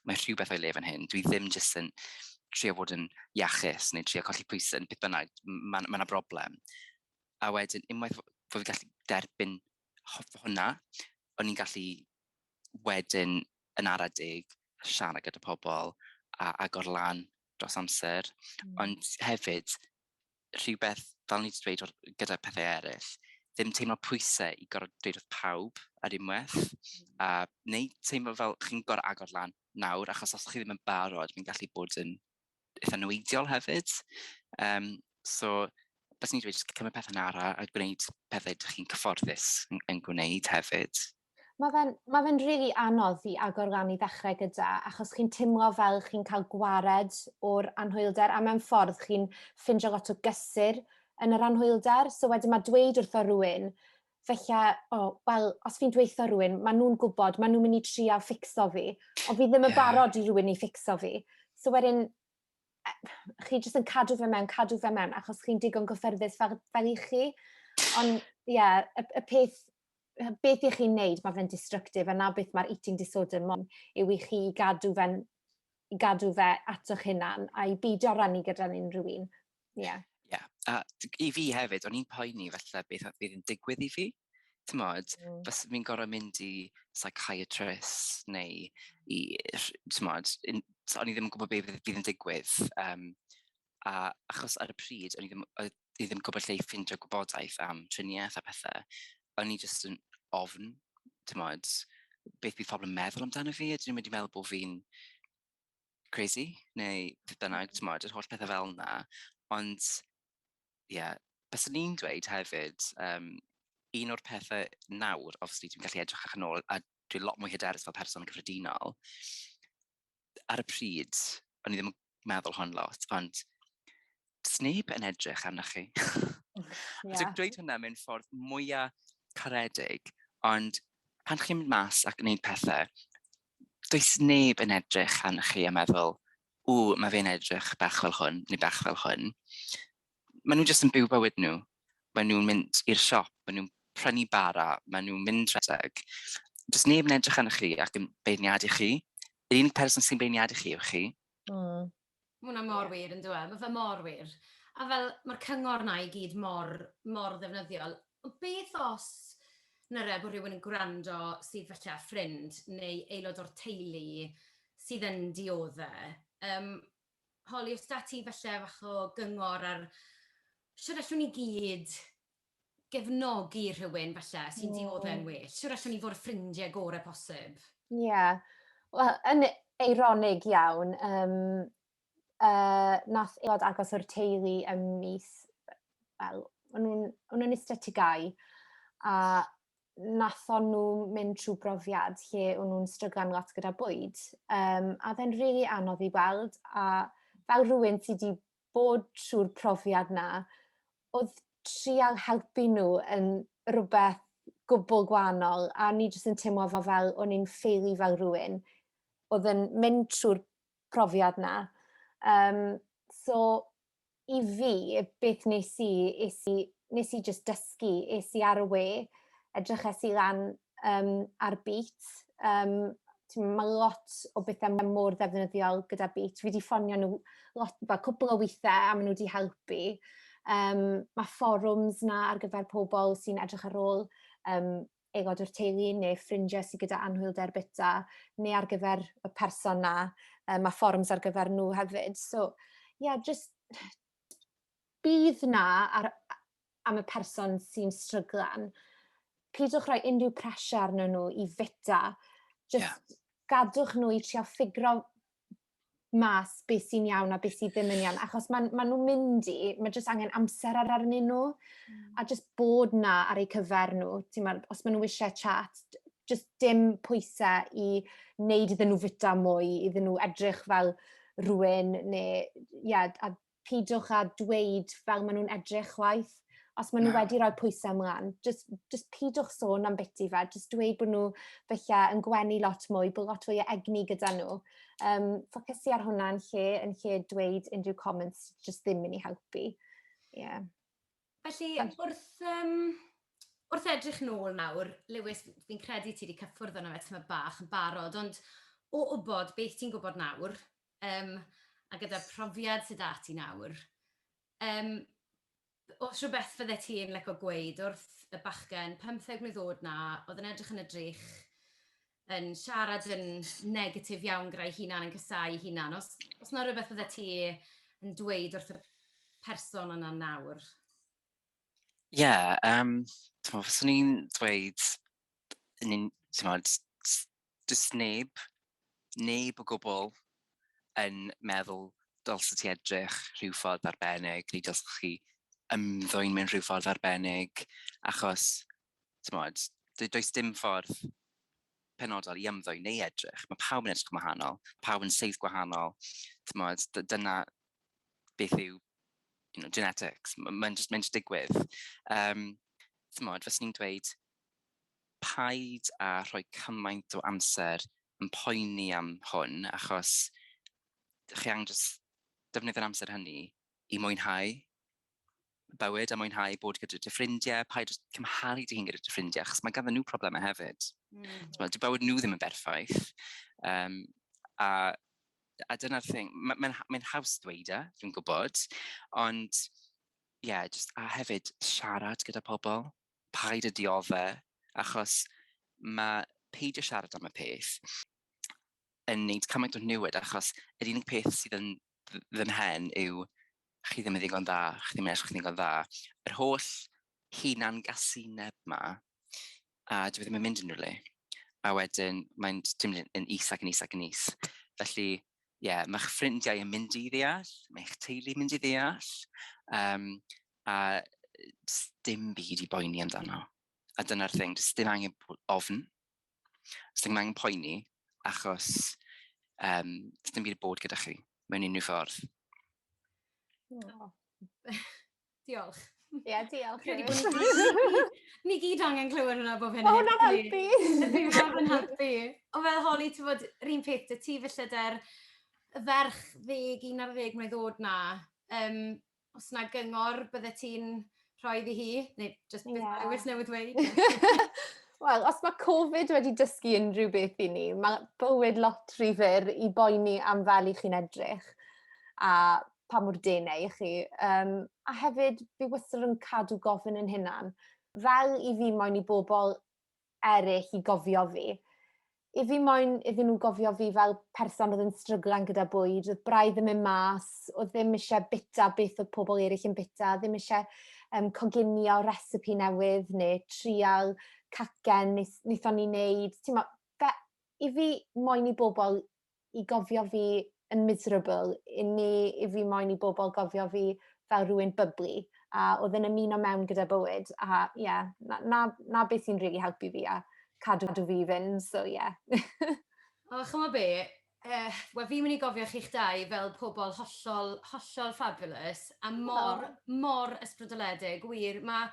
mae rhywbeth o'i le fan hyn. Dwi ddim jyst yn trio fod yn iachus neu trio colli pwysau yn beth bynnag. Mae yna ma broblem. A wedyn, unwaith fod fi'n gallu derbyn hwnna, o'n i'n gallu wedyn yn ara deg siarad gyda pobl a agor lan dros amser. Mm. Ond hefyd, rhywbeth, fel ni wedi dweud gyda pethau eraill, ddim teimlo pwysau i gorfod dweud wrth pawb ar unwaith, mm. a neu teimlo fel chi'n gorfod agor lan nawr, achos os chi ddim yn barod, mae'n gallu bod yn eitha neweidiol hefyd. Um, so, bys ni'n dweud, cymryd pethau'n ara a gwneud pethau ydych chi'n cyfforddus yn, yn gwneud hefyd. Mae fe'n ma fe rili anodd i agor lan i ddechrau gyda, achos chi'n timlo fel chi'n cael gwared o'r anhwylder, a mewn ffordd chi'n ffindio lot o gysur yn yr anhwylder. So wedyn mae dweud wrtho rhywun, felly, o, oh, wel, os fi'n dweithio rhywun, maen nhw'n gwybod, maen nhw'n mynd i trial ffixo fi, ond fi ddim yn yeah. barod i rhywun i ffixo fi. So wedyn, e, chi jyst yn cadw fe mewn, cadw fe mewn, achos chi'n digon gyffyrddus fel, fel i chi. Ond, ie, yeah, y, y peth beth i chi'n neud, mae fe'n destructive, a na beth mae'r eating disorder mon yw i chi gadw fe'n i gadw fe ato'ch hunan a i beidio rannu gyda'n unrhyw un. Ie. Yeah. yeah. a i fi hefyd, o'n i'n poeni falle beth oedd yn digwydd i fi. Tymod, mm. bys fi'n gorau mynd i psychiatrist neu i, tymod, o'n i ddim yn gwybod beth fydd yn digwydd. Um, a achos ar y pryd, o'n i ddim, oedd i ddim gwybod lle i ffindio gwybodaeth am triniaeth a pethau, o'n i jyst yn ofn, ti'n modd, beth bydd pobl yn meddwl amdano fi, a dyn nhw'n mynd i meddwl bod fi'n crazy, neu beth bynnag, ti'n modd, yr holl pethau fel yna. Ond, ie, yeah, bys ni'n dweud hefyd, um, un o'r pethau nawr, obviously, dwi'n gallu edrych âch yn ôl, a dwi'n lot mwy hyderus fel person cyffredinol, ar y pryd, o'n i ddim yn meddwl hon lot, ond sneb yn edrych arnoch chi. yeah. Dwi'n dweud hwnna mewn ffordd mwyaf caredig, ond pan chi'n mynd mas ac yn gwneud pethau, does neb yn edrych arnoch chi a meddwl, ww, mae fe'n edrych bach fel hwn, neu bach fel hwn. Maen nhw jyst yn byw bywyd nhw, maen nhw'n mynd i'r siop, maen nhw'n prynu bara, maen nhw'n mynd rhedeg. Does neb yn edrych arnoch chi ac yn beirniadu chi. Yr unig person sy'n beirniadu chi yw chi. Mm. Mae hwnna mor wir yn dweud, mae fe mor wir. A fel, mae'r cyngor na i gyd mor, mor ddefnyddiol. Beth os nyrre bod rhywun yn gwrando sydd falle â ffrind neu aelod o'r teulu sydd yn diodde? Um, holi os da ti falle fach o gyngor ar siwr allwn ni gyd gefnogi rhywun falle sy'n diodde'n well? Siwr allwn ni fod y ffrindiau gorau posib? Ie, yeah. wel, yn eironig iawn, um, uh, nath eod agos o'r teulu ym mis, wel, o'n nhw'n iste tigau, a wnaethon nhw mynd trwy brofiad lle o'n nhw'n stryglan lot gyda bwyd. Um, a fe'n rili really anodd i weld, a fel rhywun sydd wedi bod trwy'r profiad na, oedd trial helpu nhw yn rhywbeth gwbl gwahanol, a ni jyst yn teimlo fel, fel o'n i'n ffeili fel rhywun oedd yn mynd trwy'r profiad na. Um, so, i fi, beth wnes i, es i, wnes i jyst dysgu, es i ar y we, edryches i lan um, ar beat, um, mae lot o bethau mor ddefnyddiol gyda beat. Fi wedi ffonio nhw lot, fel cwbl o weithiau a maen nhw wedi helpu. Um, mae fforums na ar gyfer pobl sy'n edrych ar ôl um, aelod o'r teulu neu ffrindiau sydd gyda anhwylder bita neu ar gyfer y person 'na yy ma' fforwms ar gyfer nhw hefyd so ie yeah, jyst bydd 'na ar am y person sy'n stryglan pidwch rhoi unrhyw pressure arnyn nhw i fita jyst yeah. gadwch nhw i trio ffigro'r mas beth sy'n iawn a beth sydd ddim yn iawn, achos maen ma nhw'n mynd i, mae jyst angen amser ar arnyn nhw, mm. a jyst bod na ar eu cyfer nhw, ti'n ma, os maen nhw eisiau chat, jyst dim pwysau i wneud iddyn nhw fita mwy, iddyn nhw edrych fel rhywun, neu, ie, yeah, a pidwch a dweud fel maen nhw'n edrych chwaith. Os maen nhw Na. wedi rhoi pwysau ymlaen, jyst, jyst pidwch sôn am biti fe, jyst dweud bod nhw felly yn gwenu lot mwy, bod lot fwy o egni gyda nhw. Um, ffocysu ar hwnna yn lle, yn lle dweud unrhyw comments, jyst ddim yn ei helpu. Yeah. Felly, wrth, um, wrth edrych nôl nawr, Lewis, fi'n credu ti wedi cyffwrdd yna fe tyma bach yn barod, ond o wybod beth ti'n gwybod nawr, Yym, a gyda'r profiad sydd 'da ti nawr, yym, oes rhywbeth fyddet ti'n licio gweud wrth y bachgen pymtheg mlwydd o'd 'na, oedd yn edrych yn y drych, yn siarad yn negatif iawn gyda'i hunan, yn casáu ei hunan, oes, oes 'na rywbeth fyddet ti yn dweud wrth y person yna nawr? Ie, yeah, yym, t'mod, fyswn i'n dweud, yn un- t'mod, Does neb, neb o gwbl, yn meddwl dylse ti edrych rhyw ffordd arbennig, neu dylse chi ymddwyn mewn rhyw ffordd arbennig, achos, timod, d- does dim ffordd penodol i ymddwyn neu edrych. Mae pawb yn edrych yn wahanol, pawb yn seith gwahanol, timod, d- dyna beth yw you know, genetics, mae'n jyst, mae jyst digwydd. Um, timod, fes ni'n dweud, paid â rhoi cymaint o amser yn poeni am hwn, achos chi angen jyst defnyddio'r amser hynny i mwynhau bywyd a mwynhau bod gyda dy ffrindiau, paid â cymharu dy hun gyda dy ffrindiau, achos mae ganddyn nhw problemau hefyd. Mm. T'mod, dyw bywyd nhw ddim yn berffaith. Um, a a dyna'r thing, mae'n ma, ma haws dweud e, dwi'n gwybod, ond ie, yeah, just, a hefyd siarad gyda pobl. paid a diodde' achos ma' peidio siarad am y peth yn neud cymaint o niwed achos yr unig peth sydd yn dd- fy mhen yw chi ddim yn ddigon dda, chi ddim yn edrych yn ddigon dda. Yr holl hunan-gasineb 'ma a dyw e ddim yn mynd unrhyw le. A wedyn mae'n j- jyst mynd yn is ac yn is ac yn is. Felly ie, ma'ch ffrindiau yn mynd i ddeall, ma' eich teulu'n mynd i ddeall, yym A jyst dim byd i boeni amdano. A dyna'r thing, jyst dim angen ofn. Jyst ddim angen poeni, achos um, jyst dim byd bod gyda chi mewn unrhyw ffordd. Oh. diolch. Ie, yeah, diolch. Ni gyd angen clywed hwnna bob hynny. O, hwnna'n helpu. Hwnna'n helpu. O fel holi, ti'n bod, rhywun peth, y ti felly dy'r ferch ddeg, un ar ddeg mlynedd oed na, um, Os na gyngor byddet ti'n rhoi iddi hi? Neu jyst beth yeah. dewis newydd dweud? Wel, os mae Covid wedi dysgu unrhyw beth i ni, mae bywyd lot rhy fyr i boeni am fel i chi'n edrych a pa mor denau i chi. Um, a hefyd, fi wastad yn cadw gofyn yn hynna'n fel i fi moyn i bobl eryll i gofio fi. I fi moyn iddyn nhw gofio fi fel person oedd yn stryglan gyda bwyd, oedd braidd yn mynd mas, oedd ddim eisiau bita beth oedd pobl eraill yn bita, ddim eisiau um, coginio recipe newydd neu trial cacen wnaethon ni wneud. Mo, fe, I fi, moyn i bobl i gofio fi yn miserable, i ni, i fi moyn i bobl gofio fi fel rhywun byblu, a oedd yn ymuno mewn gyda bywyd, a ie, yeah, na, na, na beth sy'n rili really helpu fi a cadw, cadw fi fynd, so ie. Yeah. o, chymod be, uh, wel fi'n mynd i gofio chi'ch dau fel pobl hollol, hollol fabulous, a mor, oh. mor ysbrydoledig, wir, mae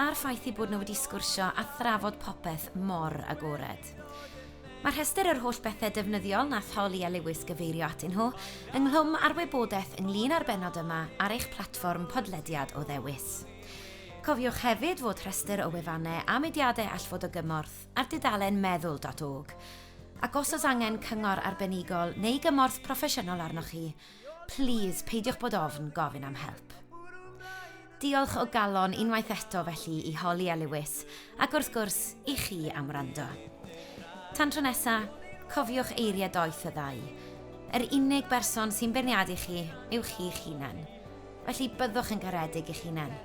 a'r ffaith ei bod nhw wedi sgwrsio a thrafod popeth mor agored. Mae rhestr yr holl bethau defnyddiol nath Holly a Lewis gyfeirio atyn nhw ynghlwm â'r wybodaeth ynglyn â'r bennod yma ar eich platfform podlediad o ddewis. Cofiwch hefyd fod rhestr o wefannau a mudiadau all fod o gymorth ar dudalen meddwl.org ac os oes angen cyngor arbenigol neu gymorth proffesiynol arnoch chi, Plîs, peidiwch bod ofn gofyn am help. Diolch o galon unwaith eto felly i Holly a Lewis, ac wrth gwrs, i chi am wrando. Tan tro nesa, cofiwch eiriau doeth y ddau. Yr unig berson sy'n beirniadu chi yw chi'ch hunan. Felly byddwch yn garedig i'ch hunan.